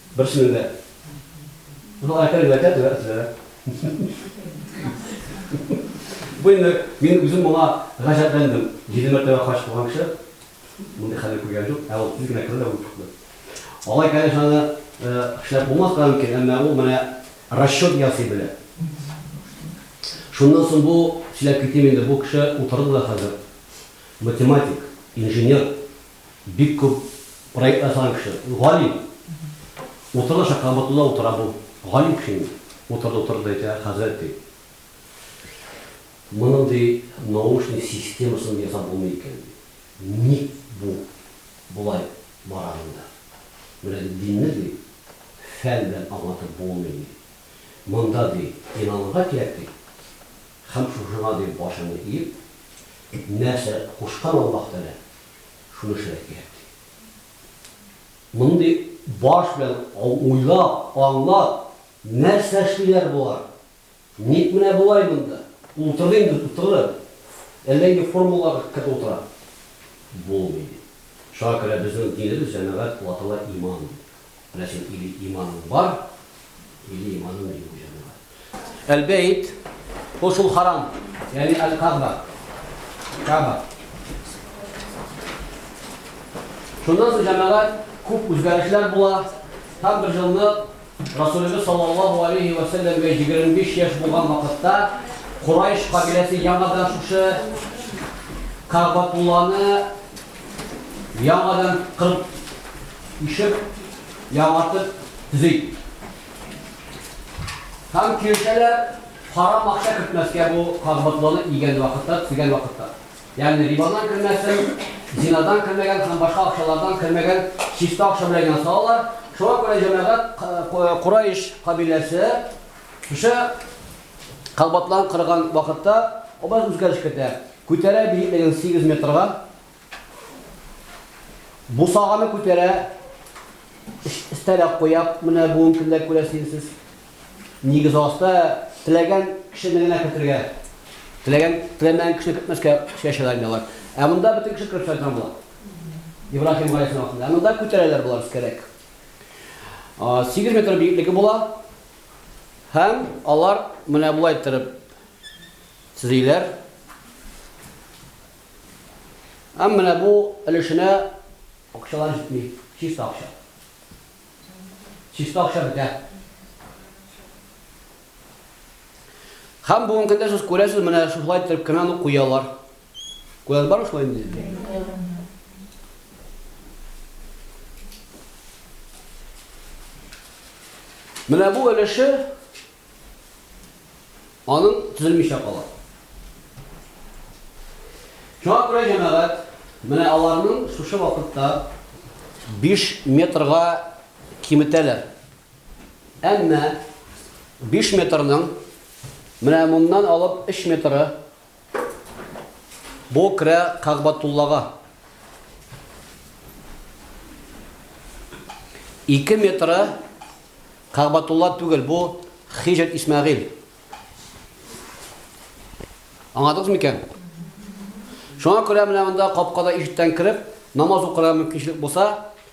[SPEAKER 1] Берсенең дә. Бу Айкар генә әйтә, дөрес әйтә. Бу инде мин үзем моңа гаҗәпләндем. Җиде мәртәбә хаҗ кылган кеше мондый хәлне күргән юк, ә ул тиз генә керде дә үлеп чыкты. Алай, конечно, аны эшләп булмаска да мөмкин, әмма ул менә расчет ясый белә. Шуннан соң бу, сөйләп китим инде, бу кеше утырды да хәзер. Математик, инженер, Бик күп проект ясаган кеше. Ул галим. Утырды аша кабатында утыра бу. Галим кеше инде. Утырды, утырды да әйтә, Хәзрәт, ди, моның, ди, наушник системасын да ясап булмый икән, ди. Ник бу болай бара монда? Менә, ди, динне, ди, фән белән аңлатып булмый, ди. Монда, ди, инанырга кирәк, ди. Һәм шушыңа, ди, башыңны иеп, нәрсә кушкан Аллаһ Тәгалә, шуны эшләргә кирәк, ди. Мондый баш белән уйлап, аңлап, нәрсә эшлиләр болар? Ник менә болай монда? Утыр инде, утыр! Әллә инде формулага кереп утыра? Булмый, ди. Шуңа күрә безнең динебез, җәмәгать, ватана иман, ди. Ләкин или иманың бар, или иманың юк бу җанга. Әл-бәйт, ул шул харам, ягъни әл-каба. Каба. Шуннан соң җәмәгать күп үзгәрешләр була. Һәм бер җылны Расулыбыз саллаллаһу алейхи ва саллямга 25 яшь булган вакытта Курайш кабиләсе яңадан шушы Кабатулланы Яңадан кырып, ишеп, яңартып төзи. Һәм киртәләр харам акча кертмәскә бу кагбатланы игән вакытта, төзегән вакытта. Ягъни рибадан кермәсен, зинадан кермәгән һәм башка акчалардан кермәгән чиста акча белән генә салалар. Шуңа күрә җәмәгать Курайш кабиләсе шушы кагбатлан кырган вакытта образ үзгәреш кертә. Күтәрә биеклеген сигез метрга. Бусаганы күтәрә, өстәлә куя, менә бүген кемдә күрәсенсез. Нигез аста теләгән кешене генә кертергә. Теләгән, теләмәгән кешене кертмәскә чәчәләр инде алар. Ә монда бөтен кеше кереп сайрана була. Ибраһим гаиләсенең артында. Ә монда күтәрәләр болар искәрәк. Сигез метр биеклеге була. Һәм алар менә болай торып Төзиләр. Һәм менә бу өлешенә акчалар җитми. Чиста акча. Чиста акча бетә. Һәм бүгенге көндә сез күрәсез, менә шулай итеп кенә аны куялар. Күрәсез бар шулай инде? Менә бу өлеше Аның төзелмичә кала. Шуңа күрә җәмәгать менә аларның шушы вакытта 5 метрга киметәләр. Әмма 5 метрның менә моннан алып 3 метры Бу керә Кагъбатуллага. Ике метры Кагъбатулла түгел, бу Хиҗр Исмәгыйль. Аңладыгыз микән? Шуңа күрә менә монда капкада ишектән кереп, намаз укырга мөмкинчелек булса,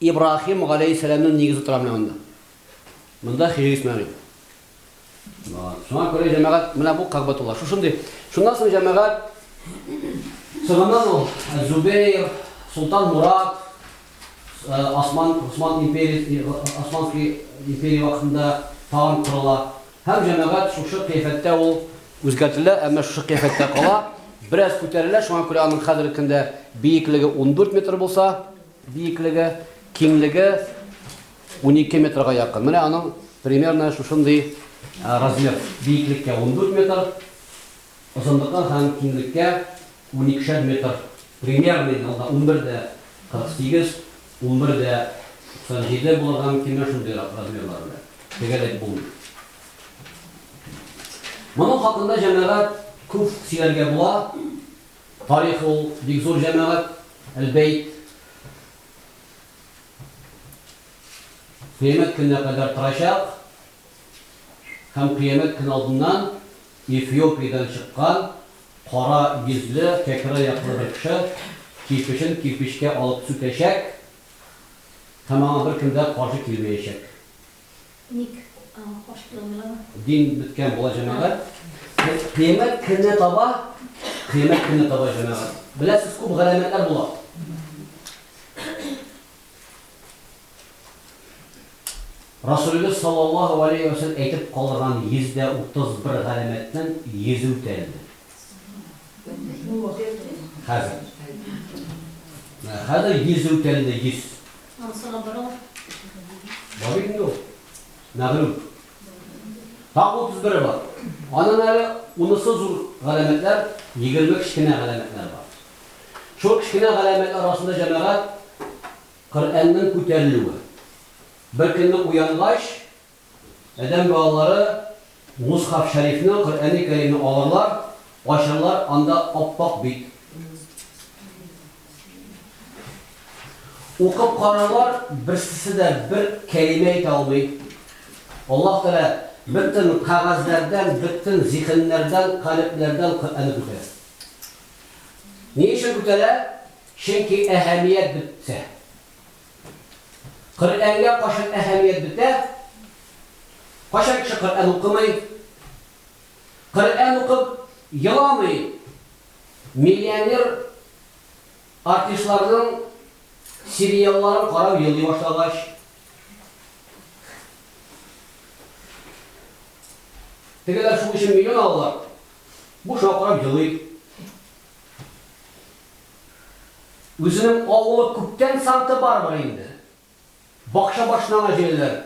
[SPEAKER 1] Ибраһим галәйһиссәламнең нигезе тора менә монда. Монда Хиҗри Исмәгыйль. Шуңа күрә җәмәгать менә бу Кагъбатулла. Шушындый. Шуннан соң җәмәгать соңыннан ул Зубейр, Солтан Мурат, Осман, Осман империя, Османский империя вакытында тагын корыла. Һәм җәмәгать шушы кыяфәттә ул үзгәртелә, әмма шушы кыяфәттә кала. Бераз күтәрелә, шуңа күрә аның хәзерге көндә биеклеге 14 метр булса, Биеклеге, киңлеге унике метрга якын. Менә аның примерно шушындый размер. Биеклеккә ундүрт метр, озынлыкка һәм киңлеккә уникешәр метр. Примерный ялда унбер дә кырык сигез, унбер дә туксан җиде булырга мөмкин, менә шундый размерлар белән. Тегәлеп булмый. Моның хакында, җәмәгать, күп сөйләргә була. Тарих ул, бик зур җәмәгать, әл-бәйт. Кыямәт көненә кадәр торачак һәм кыямәт көне алдыннан Эфиопиядән чыккан кара йөзле, кәкре аяклы бер кеше кирпечен кирпечкә алып сүтәчәк һәм аңа беркем дә каршы килмәячәк.
[SPEAKER 2] Ник ачып торалар? Дин беткән була
[SPEAKER 1] җәмәгать. Кыямәт көнне таба, кыямәт көнне таба җәмәгать. Беләсез, күп галәмәтләр була. Расулебез саллаллаһу алейһи ва сәлләм әйтеп калдырган 131 галәмәтнең 100 үтәлде. Хәзер. Хәзер 100 үтәлде, 100.
[SPEAKER 2] Ансыга бара.
[SPEAKER 1] Бар инде ул. Мәгълүм. Тагы 31 бар. Аның әле унысы зур галәмәтләр, 20 кечкенә галәмәтләр бар. Шул кечкенә галәмәтләр арасында җәмәгать Коръәннең күтәрелүе. Бер көнне уянгач, Адәм балалары Мусхаф Шәрифне, Коръәни Кәримне алырлар, ачарлар, анда ап-ак бит. Укып карарлар, берсесе дә бер кәлимә әйтә алмый. Аллаһ Тәгалә бөтен кәгазьләрдән, бөтен зиһеннәрдән, калебләрдән Коръәнне күтәрә. Ни өчен күтәрә? Чөнки әһәмият бетте. Коръәнгә кайчан әһәмият бетә? Кайчан кеше Коръән укымый? Коръән укып еламый миллионер артистларның сериалларын карап елый башлагач. Тегеләр шул өчен миллион алалар, бу шуңа карап елый. Үзенең авылы күптән Санта-Барбара инде. Бакча башына гына җәяләр.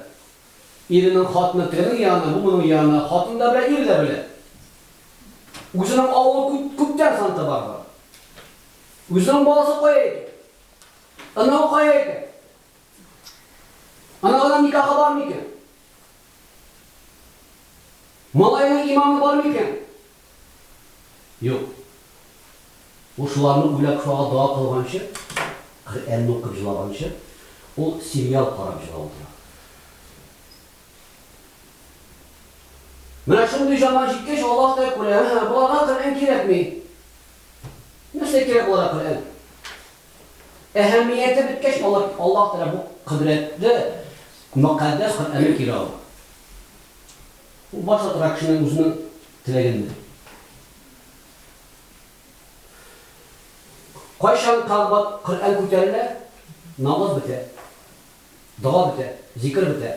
[SPEAKER 1] Иренең хатыны тегенең янына, бу моның янына. Хатын да белә, ир дә белә. Үзенең авылы күп, күптән Санта-Барбара. Үзенең баласы кая икән? Оныгы кая икән? Оныгыннан никахы бармы икән? Малайның иманы бар микән? Юк. Ул шуларны уйлап, шуңа дога кылганчы, Коръәнне укып җылаганчы, ул сериал карап җылап утыра. Менә шундый заман җиткәч, Аллаһ та күрә, һә, боларга Коръән кирәкми. Нәрсә кирәк боларга Коръән? Әһәмияте беткәч, алар Аллаһ Тәгалә бу кодрәтле, мөкатдәс Коръәнне кире ала. Ул барча тора кешенең үзенең теләгендә. Кайчан кабат Коръән күтәрелә, намаз бетә, дога бетә, зикер бетә.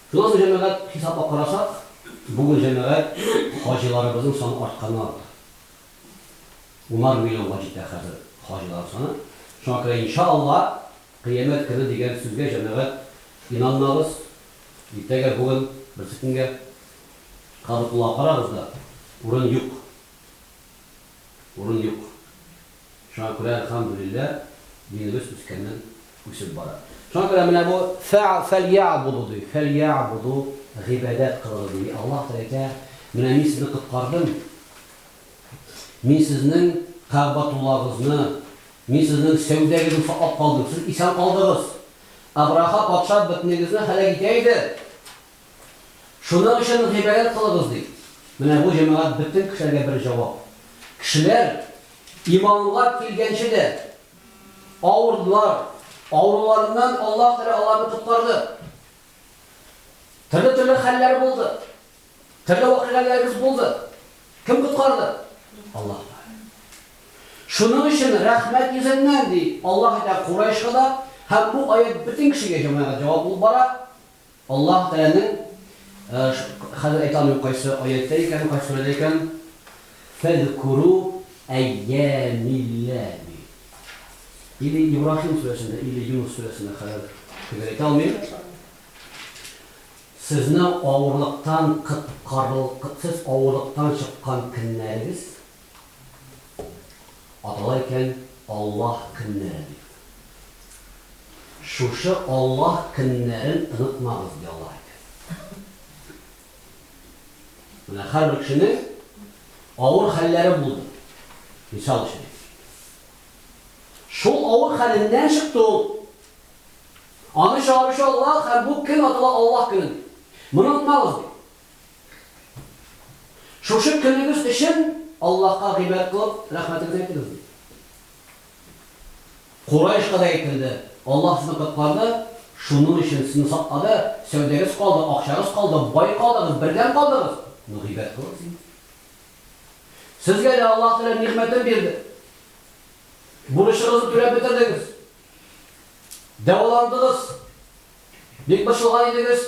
[SPEAKER 1] Шуннан соң җәмәгать хисапка карасак, бүген җәмәгать хаҗиларыбызның саны артканнан арта. Унар миллионга җитә хәзер хаҗилар саны. Шуңа күрә, инша Алла, Кыямәт көне дигән сүзгә җәмәгать инанмагыз, иртәгә, бүген, берсекөнгә Кабатуллага карагыз да, урын юк. Урын юк. Шуңа күрә, әлхәмдүлилләһ, динебез үскәннән үсеп бара. Шуңа күрә менә бу фә фәльяәбуду ди, фәльяәбуду, гыйбадәт кылыгыз, ди. Аллаһ Тәләкә, менә мин сезне коткардым, мин сезнең Кәгъбәтуллагызны, мин сезнең сәүдәгезне саклап калдым, сез исән калдыгыз. Әбраха патша бөтенегезне һәлак итә иде. Шуның өчен гыйбадәт кылыгыз, ди. Менә бу җәмәгать бөтен кешеләргә бер җавап. Кешеләр иманга килгәнче дә авырдылар, авыруларыннан Аллаһ Тәгалә аларны коткарды. Төрле-төрле хәлләр булды. Төрле вакыйгаләребез булды. Кем коткарды? Аллаһ Тәгалә. Шуның өчен рәхмәт йөзеннән, ди, Аллаһ әйтә Курайшка да, һәм бу аять бөтен кешегә җәмәгать җавап булып бара. Аллаһ Тәгаләнең, хәзер әйтә алмыйм кайсы аятьтә икән, кайсы сүрәдә икән, Фәзкуру әйямиллә ди. Или Ибраһим сүрәсендә, или Юнус сүрәсендә, хәзер төгәл әйтә алмыйм. Сезне авырлыктан коткарыл, сез авырлыктан чыккан көннәрегез. Атала икән Аллаһ көннәре дип. Шушы Аллаһ көннәрен онытмагыз, ди Аллаһ әйтә. Менә һәрбер кешенең авыр хәлләре булды. Мисал өчен. Шул авыр хәленнән чыкты ул. Аны чыгаручы Аллаһ һәм бу көн атала Аллаһ көне. Моны онытмагыз, ди. Шушы көнегез өчен Аллаһка гыйбадәт кылып, рәхмәтегезне әйтегез, диде. Курайшка да әйтелде, Аллаһ сезне коткарды, шуның өчен сезне саклады, сәүдәгез калды, акчагыз калды, бай калдыгыз, бердәм калдыгыз, ну гыйбадәт кылыгыз инде. Сезгә дә Аллаһ Тәгалә нигъмәтен бирде. Бурычыгызны түләп бетердегез. Дәваландыгыз. Бик борчылган идегез.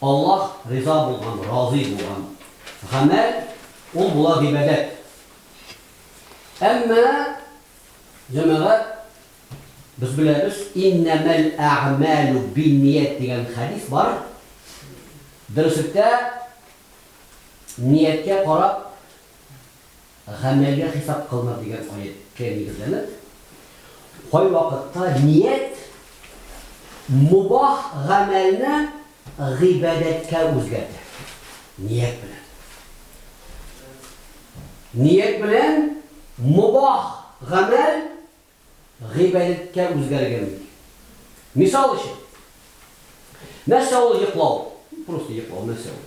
[SPEAKER 1] Аллаһ риза булган, разый булган, гамәл, ул була гыйбадәт. Әмма, җәмәгать, без беләбез, иннәмәл әгъмәлү бинният дигән хәдис бар. Дөреслектә, нияткә карап, гамәлгә хисап кылына дигән аятькә нигезләнеп, кайвакытта ният мубах гамәлне гыйбадәткә үзгәртә. Ният белән. Ният белән мубах гамәл гыйбадәткә үзгәргән бит. Мисал өчен, нәрсә ул йоклау? Просто йоклау нәрсә ул?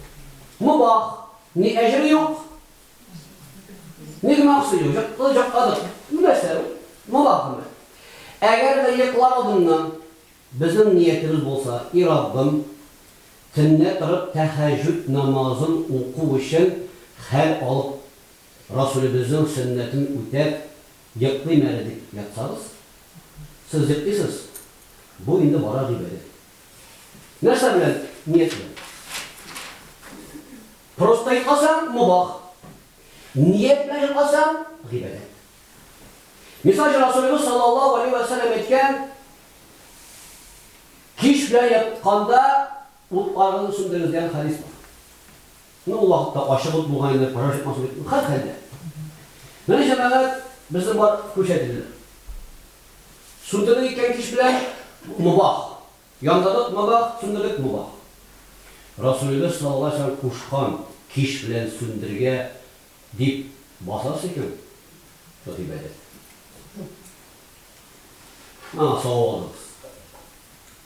[SPEAKER 1] Мубах, ни әҗере юк, ни гөнаһысы юк, йокты, йокладык. Бу нәрсә ул? Мубах гына. Әгәр дә йоклар алдыннан безнең ниятебез булса, и Раббым, төнлә торып тәһәҗҗүд намазын уку өчен хәл алып, Расүлебезнең сөннәтен үтәп, Йоклыйм әле дип ятсагыз, сез йоклыйсыз, бу инде бара дип әйдә. Нәрсә белән ниятләү? Просто йокласаң, мобах. Ният белән йокласаң, гыйбадәт. Мисал өчен Расулебез саллаллаһу алейһи вә сәлләм әйткән, Кич белән ятканда утларыгызны сүндерегез дигән хәдис бар. Ну, ул вакытта ачык ут булган инде, пожар чыкмасын дип, ну, хәрхәлдә. Менә, җәмәгать, безне бар күрсәтелде. Сүндердек икән кич белән, мобах. Яндырдык, мобах, сүндердек, мобах. Расулебез саллаллаһу галәйһи ва сәлләм кушкан, кич белән сүндергә дип басасыз икән, шул гыйбадәт. Аңа савап алырбыз.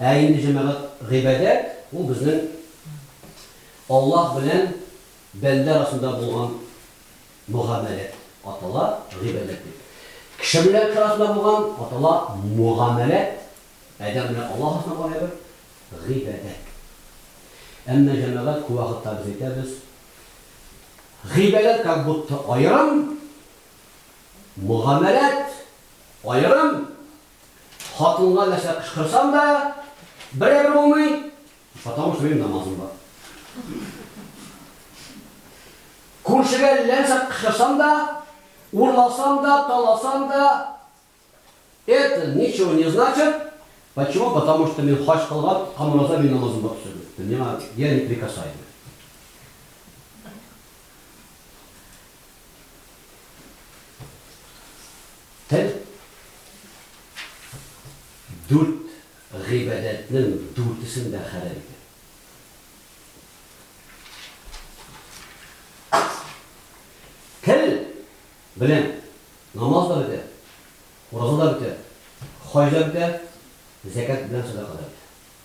[SPEAKER 1] Ә инде, җәмәгать, гыйбадәт, ул безнең Аллаһ белән бәндә арасында булган мөгамәлә атала гыйбадәт дип. Кеше белән арасында булган атала мөгамәлә, адәм белән Аллаһ арасында булган әйбер, гыйбадәт. Әмма, җәмәгать, күп вакытта без әйтәбез, гыйбадәт как будто аерым, мөгамәлә аерым, Хатынга нәрсә кычкырсам да, берәр булмый, потому что минем намазым бар. Күршегә ләнсә кычкырсам да, урласам да, таласам да, это ничего не значит, почему, потому что мин хаҗ кылган, камыраза мин намазым бар төшердем. Миңа я не прикасаемый. Тел, дүрт гыйбадәтнең дүртесен дә хәләл итә. Тел белән намаз да бетә, ураза да бетә, хаҗ да бетә, зәкят белән садака да бетә.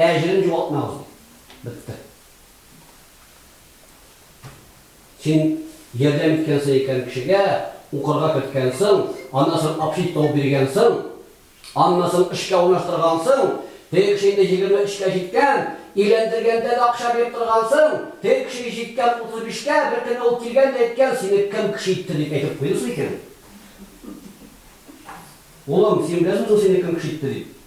[SPEAKER 1] Әҗерен югалтмагыз, ди. Бетте. Син ярдәм иткәнсең икән кешегә, укырга керткәнсең, аннан соң общить табып биргәнсең, аннан соң эшкә урнаштыргансың, теге кеше инде егерме өчкә җиткән, өйләндергәндә дә акча биреп торгансың, теге кеше җиткән утыз бишкә, беркөнне ул килгән дә әйткән, сине кем кеше итте, дип әйтеп куйды соң икән. Улым, син беләсең соң сине кем кеше итте, дип?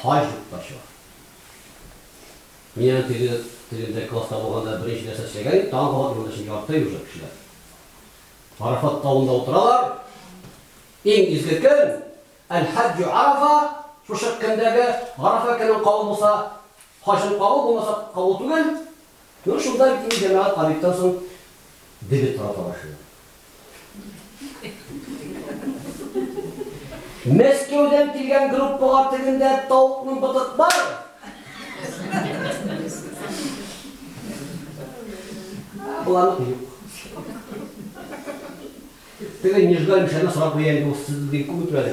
[SPEAKER 1] Хаҗ ук та чыга. Мин аны теге, тегендә класста булганда беренче нәрсә эшләгән идем, тагын кабат юлда чын ярты ел уже кешеләр. Арафат тавында утыралар. Иң изге көн, әл-хаҗ Арафа, шушы көндәге Арафа көнен кабул булса, хаҗын кабул булмаса, кабул түгел. Ну, шунда бит инде җәмәгать Хәбибтан соң дебет тарата башлыйлар. Мәскәүдән килгән группага тегендә тавыкның ботык бар. Боларныкы юк. Теге Нижгай Мишәне сорап куя инде, ул сездән күп үтмәде.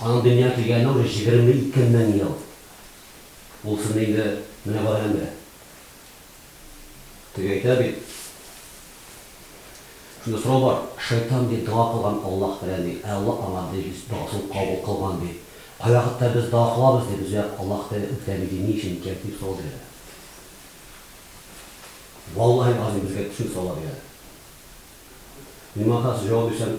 [SPEAKER 1] Аның дөнья килгәненә уже җигерме ике мең ел. Ул сынны инде менә бу адәм белә. Теге әйтә бит, Шунда сорау бар, шайтан, ди, дога кылган Аллаһ белән, ди, ә Аллаһ аңа, ди, догасын кабул кылган, ди. Кайвакытта без дога кылабыз, ди, безгә Аллаһ да үтәми, ди, ни өчен икән, дип сорау бирәләр. Валлаһи лгазыйм, безгә шундый сораулар бирәләр. Мин моңа каршы җавап бирсәм,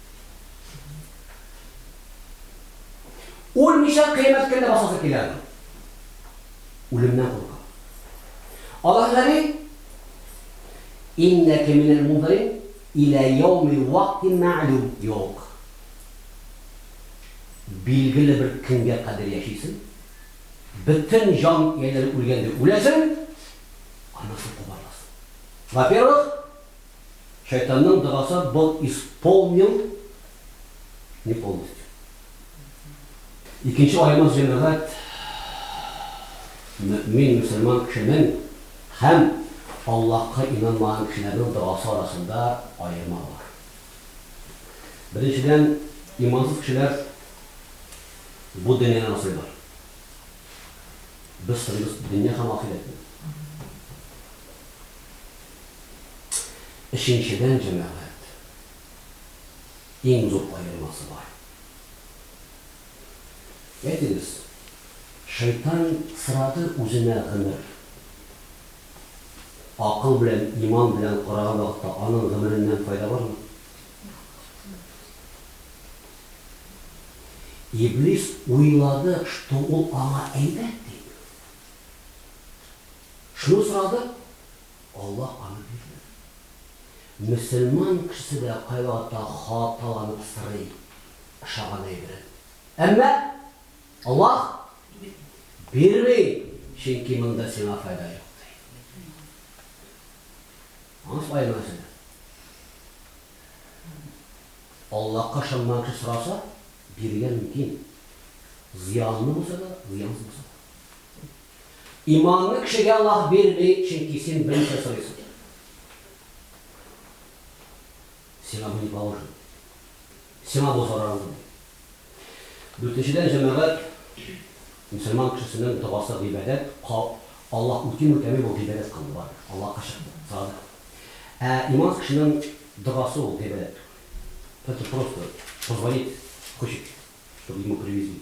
[SPEAKER 1] Үлмичә кыямәт көнне басасы килә аны. Үлемнән курка. Аллаһ Галим Иннә кеминәл мундарин илә яуми вакти мәгълүм юк. Билгеле бер көнгә кадәр яшисең. Бөтен җан ияләре үлгәндә үләсең. Аннан соң кубарыласың. Во-первых, Шайтанның догасы был исполнил не полностью. Икенче аямыз җәмәгать мөэмин мөселман кешенең һәм Аллаһка инанмаган кешеләрнең догасы арасында аерма бар. Беренчедән, имансыз кешеләр бу дөньяны асрыйлар. Без сорыйбыз дөнья һәм ахирәтне. Өченчедән, җәмәгать, иң зур аермасы бар. Әйтегез, шайтан сырады үзенә гомер. Акыл белән, иман белән караган вакытта аның гомереннән файда бармы? Иблис уйлады, что ул аңа әйбәт дип. Шуны сорады, Аллаһ аны бирмәде. Мөселман кешесе дә кайвакытта хаталанып сорый ошаган әйберен. Әмма Аллаһ бирми, чөнки монда сиңа файда юк, ди. Аңлашып аерма сүз. Аллаһка ышанмаган кеше сораса, бирергә мөмкин. Зыянлы булса да, зыянсыз булса да. Иманны кешегә Аллаһ бирми, чөнки син берничә сорыйсың. Сиңа бу не положено. Сиңа бу зарарлы ди. Дүртенчедән, җәмәгать, мөселман кешесенең догасы гыйбадәт, ка, Аллаһ үтиме, үтәмиме ул гыйбадәт кылды, барыбер, Аллаһка ширк булды, садык. Ә имансыз кешенең догасы ул гыйбадәт түгел. Это просто позвонить, хочет, чтобы ему привезли.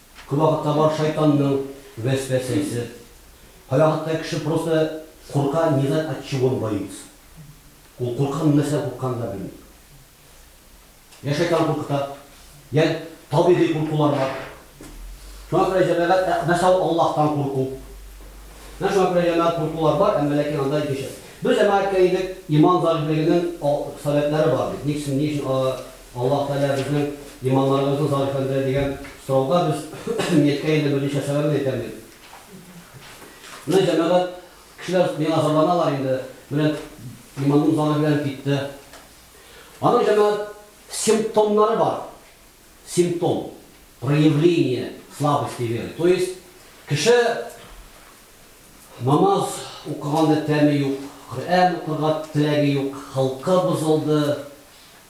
[SPEAKER 1] Кайвакытта бар шайтанның вәсвәсәсе, кайвакытта кеше просто курка, не знает от чего он боится. Ул куркам нәрсәдән куркканын да белми. Я шайтан куркыта, я табигый куркулар бар. Шуңа күрә җәмәгать, ә нәрсә ул Аллаһтан курку? Менә шуңа күрә җәмәгать куркулар бар, әмма ләкин анда икенче. Без җәмәгатькә идек, иман заифлегенең сәбәпләре бар бит. Ник син ни өчен Аллаһ Тәгалә безнең иманнарыбызны зарифләндерә дигән сорауга без мияткә инде берничә сәбәбен әйтәм бит. Менә җәмәгать кешеләр миңа зарланалар инде, менә иманым зарифләнеп китте. Аның җәмәгать симптомнары бар. Симптом, проявление слабости веры. То есть, кеше намаз укыганда тәме юк, Коръән укырга теләге юк, холкы бозылды,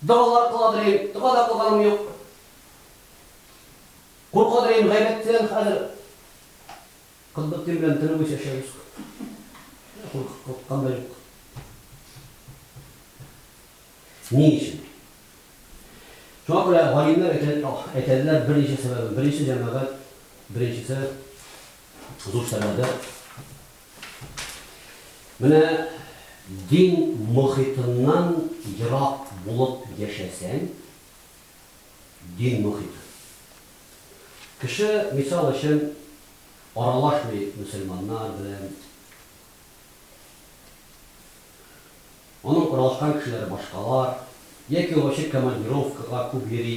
[SPEAKER 1] Догалар кыладыр идем, дога да кылганым юк. Куркадыр идем, гайбәттән хәзер Котбетдин белән төне буе чәчәбез. Курккан да юк. Ни өчен? Шуңа күрә галимнәр әйтәләр берничә сәбәбен. Беренче җәмәгать, беренчесе зур сәбәбе Менә дин мохитыннан ерак булып яшәсәң, дин мохиты. Кеше, мисал өчен, аралашмый мөселманнар белән. Аның аралашкан кешеләре башкалар. Яки ул ачык командировкага күп йөри.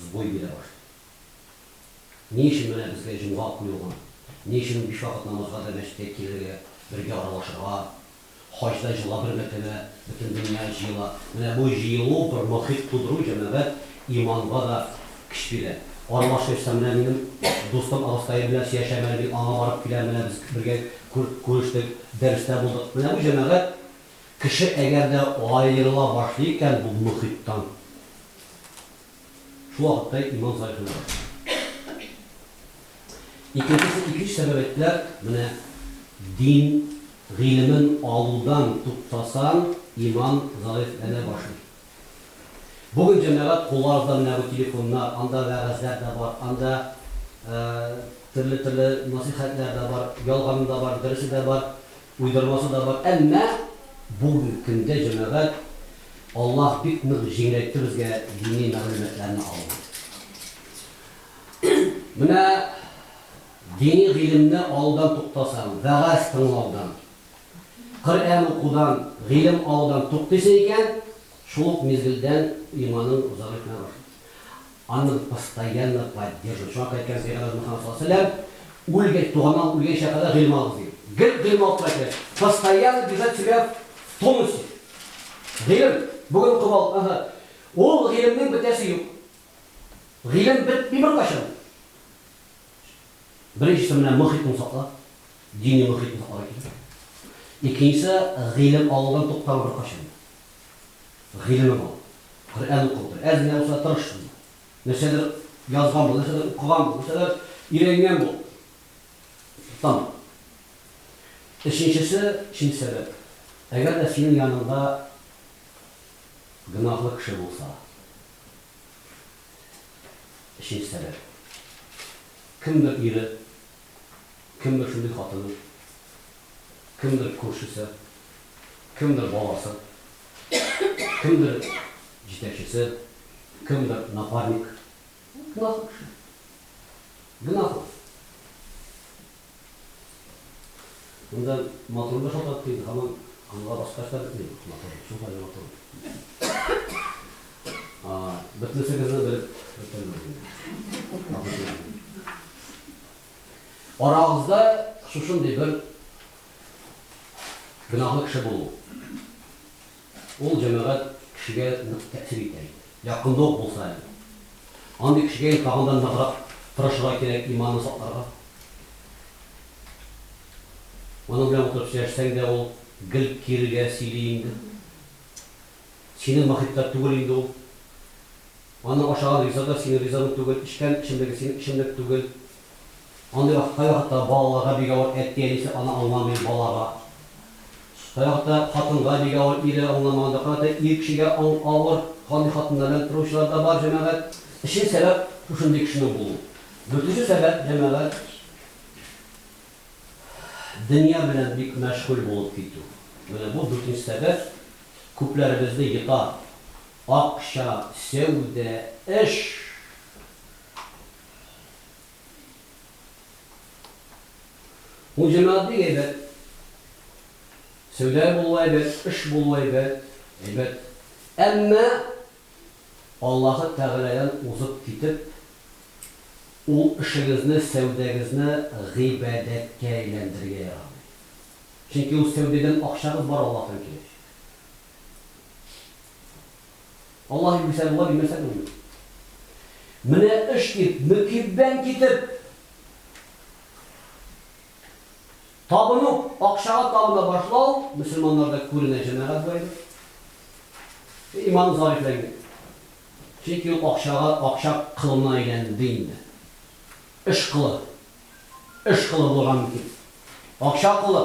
[SPEAKER 1] сбой бирә башлый. Ни өчен менә безгә җомга уку юкмы? Ни өчен ул биш вакыт намазга да мәчеткә килергә, бергә аралашырга? Хаҗда җылга бер мәртәбә бөтен дөнья җыела. Менә бу җыелу, бер мохит тудыру, җәмәгать, иманга да көч бирә. Аралашыйсы, менә минем дустым абыстаем белән сөяшәм әле, мин аңа барып киләм, менә без бергә күрештек, дәрестә булдык. Менә бу җәмәгать. Кеше әгәр дә аерыла башлый икән бу мохиттан, шул вакытта иман зайгына башлый. Икенчесе, икенче сәбәп әйттеләр, менә дин гыйлемен алудан туктасаң, иман заифләнә башлый. Бүген җәмәгать кулларыбызда менә бу телефоннар, анда вәгазьләр дә бар, анда төрле-төрле насыйхәтләр дә бар, ялганы да бар, дөресе дә бар. Уйдырмасы да бар, әмма бүгенге көндә җәмәгать, Аллаһ бик нык җиңеләйтте безгә дини мәгълүматларны алуны. Менә дини гыйлемне алудан туктасаң, вәгазь тыңлаудан, Коръән укудан, гыйлем алудан туктыйсы икән, шул ук мизгелдән иманың зәгыйфьләнә башлый. Аның постоянно поддерживать чак әйткән Сәйгалә Мөхәммәд саллаллаһу галәйһи ва сәлләм үлгәч, туганнан үлгәнчә кадәр гыйлем алыгыз ди. Гел гыйлем алып тора кирәк. Постоянно держать себя в тонусе. Гыйлем, бүген укып алдык, ага. Ул гыйлемнең бетәсе юк. Гыйлем бетми беркайчан. Беренчесе менә мохитны сакла, дини мохитны сакларга кирәк. Икенчесе, гыйлем алудан туктама беркайчан да. гыйлеме бар. Коръән укып утыр. Әз генә булса тырыш бул. Нәрсәдер язган бул, нәрсәдер укыган бул, нәрсәдер өйрәнгән бул. Там. Өченчесе, өченче сәбәп. Әгәр дә синең яныңда гөнаһлы кеше булса. Өченче сәбәп. Кемдер ире Кемдер шундый хатыны, кемдер күршесе, кемдер баласы, кемдер җитәкчесе, кемдер напарник. Гөнаһлы кеше. Гөнаһлы. Монда матурлык та тапты инде, һаман аңа башкач та бетми бу матурлык, шул кадәр матур. Бөтенесегезне белеп бетермәдем инде. Арагызда шушындый бер гөнаһлы кеше булу. Ул җәмәгать кешегә нык тәэсир итә иде. Якында ук булса әле. Андый кешегә инде тагын да ныграк тырышырга кирәк, иманны сакларга. Аның белән утырып сөйләшсәң дә, ул гел кирегә сөйли инде. Синең мохитта түгел инде ул. Аның ашаган ризыгы синең ризыгың түгел, эчкән эчемлеге синең эчемлек түгел. Андый вакыт кайвакытта балаларга бик авыр, әти-әнисе аны аңламый, балага. Кайвакытта хатынга бик авыр, ире аңламаганда. Кайвакытта ир кешегә авыр, андый хатыннар белән торучылар да бар, җәмәгать. Өченче сәбәп, шушындый кешенең булуы. Дүртенче сәбәп, җәмәгать, дөнья белән бик мәшгуль булып китү. Менә бу дүртенче сәбәп күпләребезне йота. Акча, сәүдә, эш. Ул җәмәгать бик әйбәт. Сәүдә булуы әйбәт, эш булуы әйбәт, әйбәт. Әмма Аллаһы Тәгаләдән узып китеп, ул эшегезне, сәүдәгезне гыйбадәткә әйләндерергә ярамый. Чөнки ул сәүдәдән акчагыз бар Аллаһтан киләчәк. Аллаһи Гүзәлулла димәсәң инде. Менә эш дип, мөкиббән китеп, табыну, акчага табына башлау мөселманнарда күренә, җәмәгать зайбы. Иман зарифләнгән. Чөнки ул акчага, акча кылына әйләнде инде. Эш кылы. Эш кылы булган мөкиб. Акча кылы.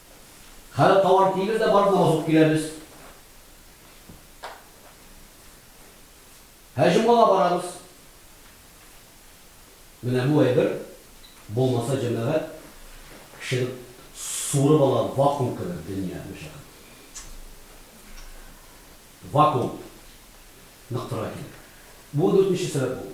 [SPEAKER 1] Хәзер тауар тилер дә барып намаз укып киләбез. Һәр җомгага барабыз. Менә бу әйбер булмаса җәмәгать кешене суырып ала вакуум кебек дөнья мәшәкать. Вакуум ныктыра килә. Бу дүртенче сәбәп булды.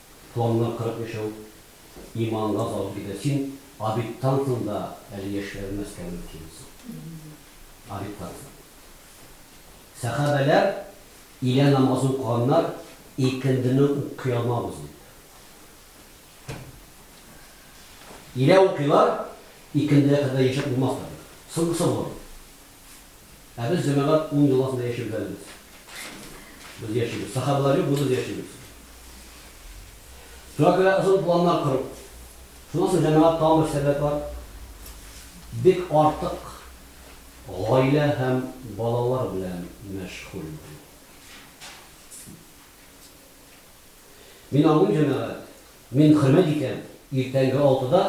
[SPEAKER 1] Планнар кырык яшәү иманга салып китә. Син обедтан соң да әле яшьләнмәскә мөмкинсең. Обедтан соң. Сәхабәләр илә намазы укыганнар, икендене укый алмабыз дип. Илә укыйлар, икендегә кадәр яшәп булмас та бит. Соңгысы булыр. Ә без, җәмәгать, уң юл астында яшибез әле без. Без яшибез. Сахабалар юк, без яшибез. Шуңа күрә озын планнар кору. Шуннан соң, җәмәгать, тагын бер сәбәп бар. Бик артык гаилә һәм балалар белән мәшгуль булу. Мин аңлыйм, җәмәгать. Мин хөрмәт итәм, иртәнге алтыда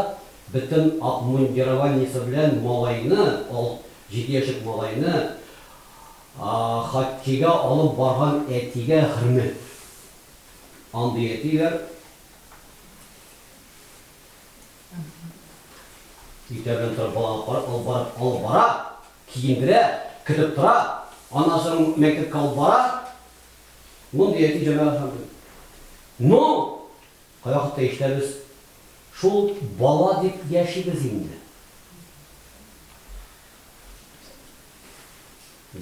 [SPEAKER 1] бөтен обмундированиесе белән малайны, алт, җиде яшьлек малайны хоккейга алып барган әтигә хөрмәт. Андый әтиләр иртә белән торып баланы карап алып барып алып бара, киендерә, көтеп тора, аннан соң мәктәпкә алып бара, Мондый әти җанга ышандым. Ну! Кайвакытта ишетәбез, Шул бала дип яшибез инде.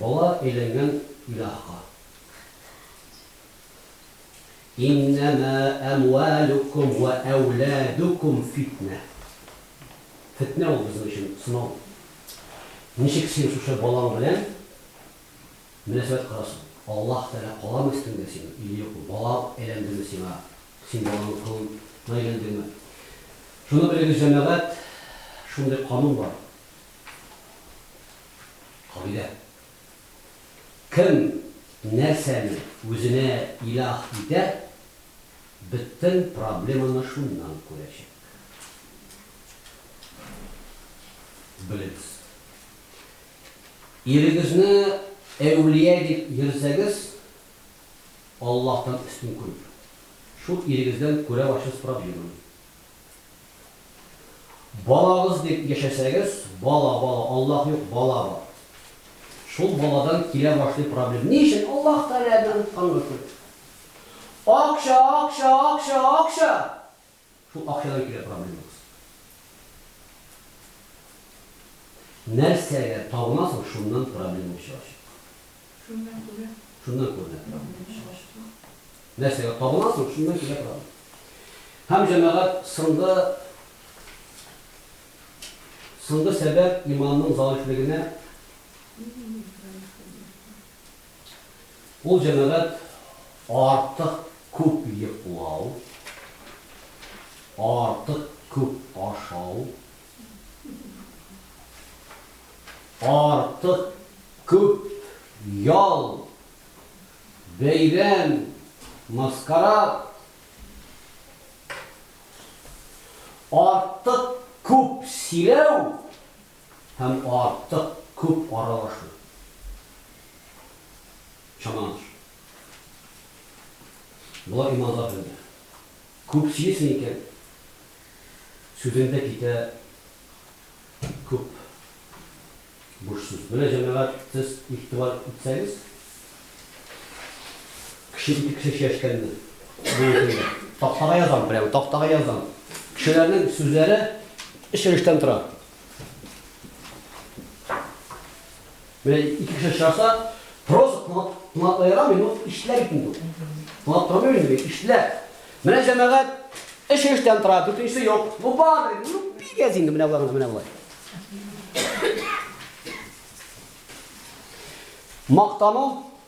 [SPEAKER 1] Бала әйләнгән илаһка. Иннәмә әмвәлүкүм вә әүләдүкүм фитнә. Фетнә ул безнең өчен сынау. Ничек син шушы балаң белән Мөнәсәбәт кара соң. Аллаһ Тәгалә каламы өстеңдә синең, или юкмы? Бала әйләндеме сиңа, син баланың колын на әйләндеңме? Шуны белегез, җәмәгать, шундый канун бар, кагыйдә. Кем нәрсәне үзенә илаһ итә, бөтен проблеманы шуннан күрәчәк. Белегез. Ирегезне әүлия дип йөрсәгез, Аллаһтан өстен күреп, шул ирегездән күрәү ачу сорап йөрмәң. Балагыз дип яшәсәгез, бала, бала, Аллаһ юк, бала бар. Шул баладан килә башлый проблем. Ни өчен? Аллаһ Тәгаләдән онытканга күрә. Акча, акча, акча, акча! Шул акчадан килә проблемабыз. Нәрсәгә табына соң, шуннан проблема чыгачак. Шуннан күрә. Шуннан күренә проблема чыгачак. Нәрсәгә табына соң, шуннан килә проблема. Һәм җәмәгать сынды сынды сәбәп иманның заифлегенә. Ул җәмәгать артык күп йоклау, артык күп ашау, артык күп ял, бәйрәм, маскарад, артык күп сөйләү, һәм артык күп аралашу, чамаланыш. Болар иманга бәйле. Күп сөйлисең икән, сүзең дә китә күп буш сүз. Менә, җәмәгать, сез игътибар итсәгез, кеше ике кеше сөйләшкәнне бүген көндә тактага язам, прямо тактага язам. Кешеләрнең сүзләре өч өлештән тора. Менә ике кеше чыгаса, просто тыңлап, тыңлап ярамый, ну, иштеләр бит инде. Тыңлап тормый инде, иштеләр. Менә җәмәгать эш эштән тора, дүртенчесе юк. Ну, бар, ну, бик әз инде, менә болай гына, менә болай. Мактану,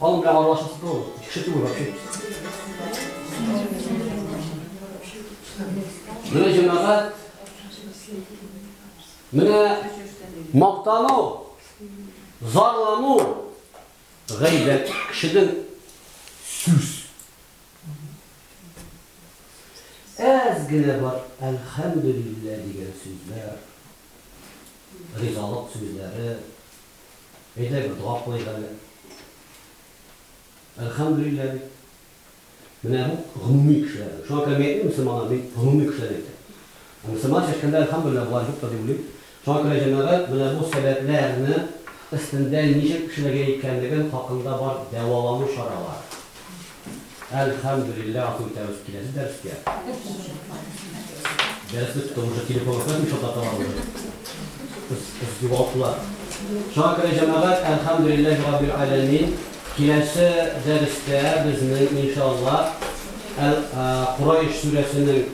[SPEAKER 1] Балым прямо орлаш ну, шитую вообще. Менә җәмәгать. Менә мактану, зарлану, гайбәт кешедән сүз. Әз генә бар, әлхәмдулиллә дигән сүзләр. ризалык сүзләре, әйдәгез, дога кылыйк әле. Әлхәмдүлилләһ бит. Менә бу гомуми кешеләрнең. Шуңа күрә мин әйтмим, мөселманнар, мин гомуми кешеләрне әйтәм. Ә мөселманча әйткәндә, әлхәмдүлилләһ, болай юктыр дип уйлыйм. Шуңа күрә, җәмәгать, менә бу сәбәпләрне өстендә ничек эшләргә икәнлеген хакында бар дәвалану чаралары. Әлхәмдүлилләһ ату итәбез киләсе дәрескә. Дәрес бетте, уже телефонга күрәсең шунда табарбыз. Кыз, кыз югалтылар. Шуңа күрә җәмәгать, әлхәмдүлилләһ раббил аләмин, киләсе дәрестә безнең иншаллаһ әл Курайш сүрәсенең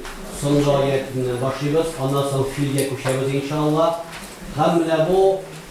[SPEAKER 1] соңгы аятеннән башлыйбыз, аннан соң Филгә күчәбез иншаллаһ. Һәм менә бу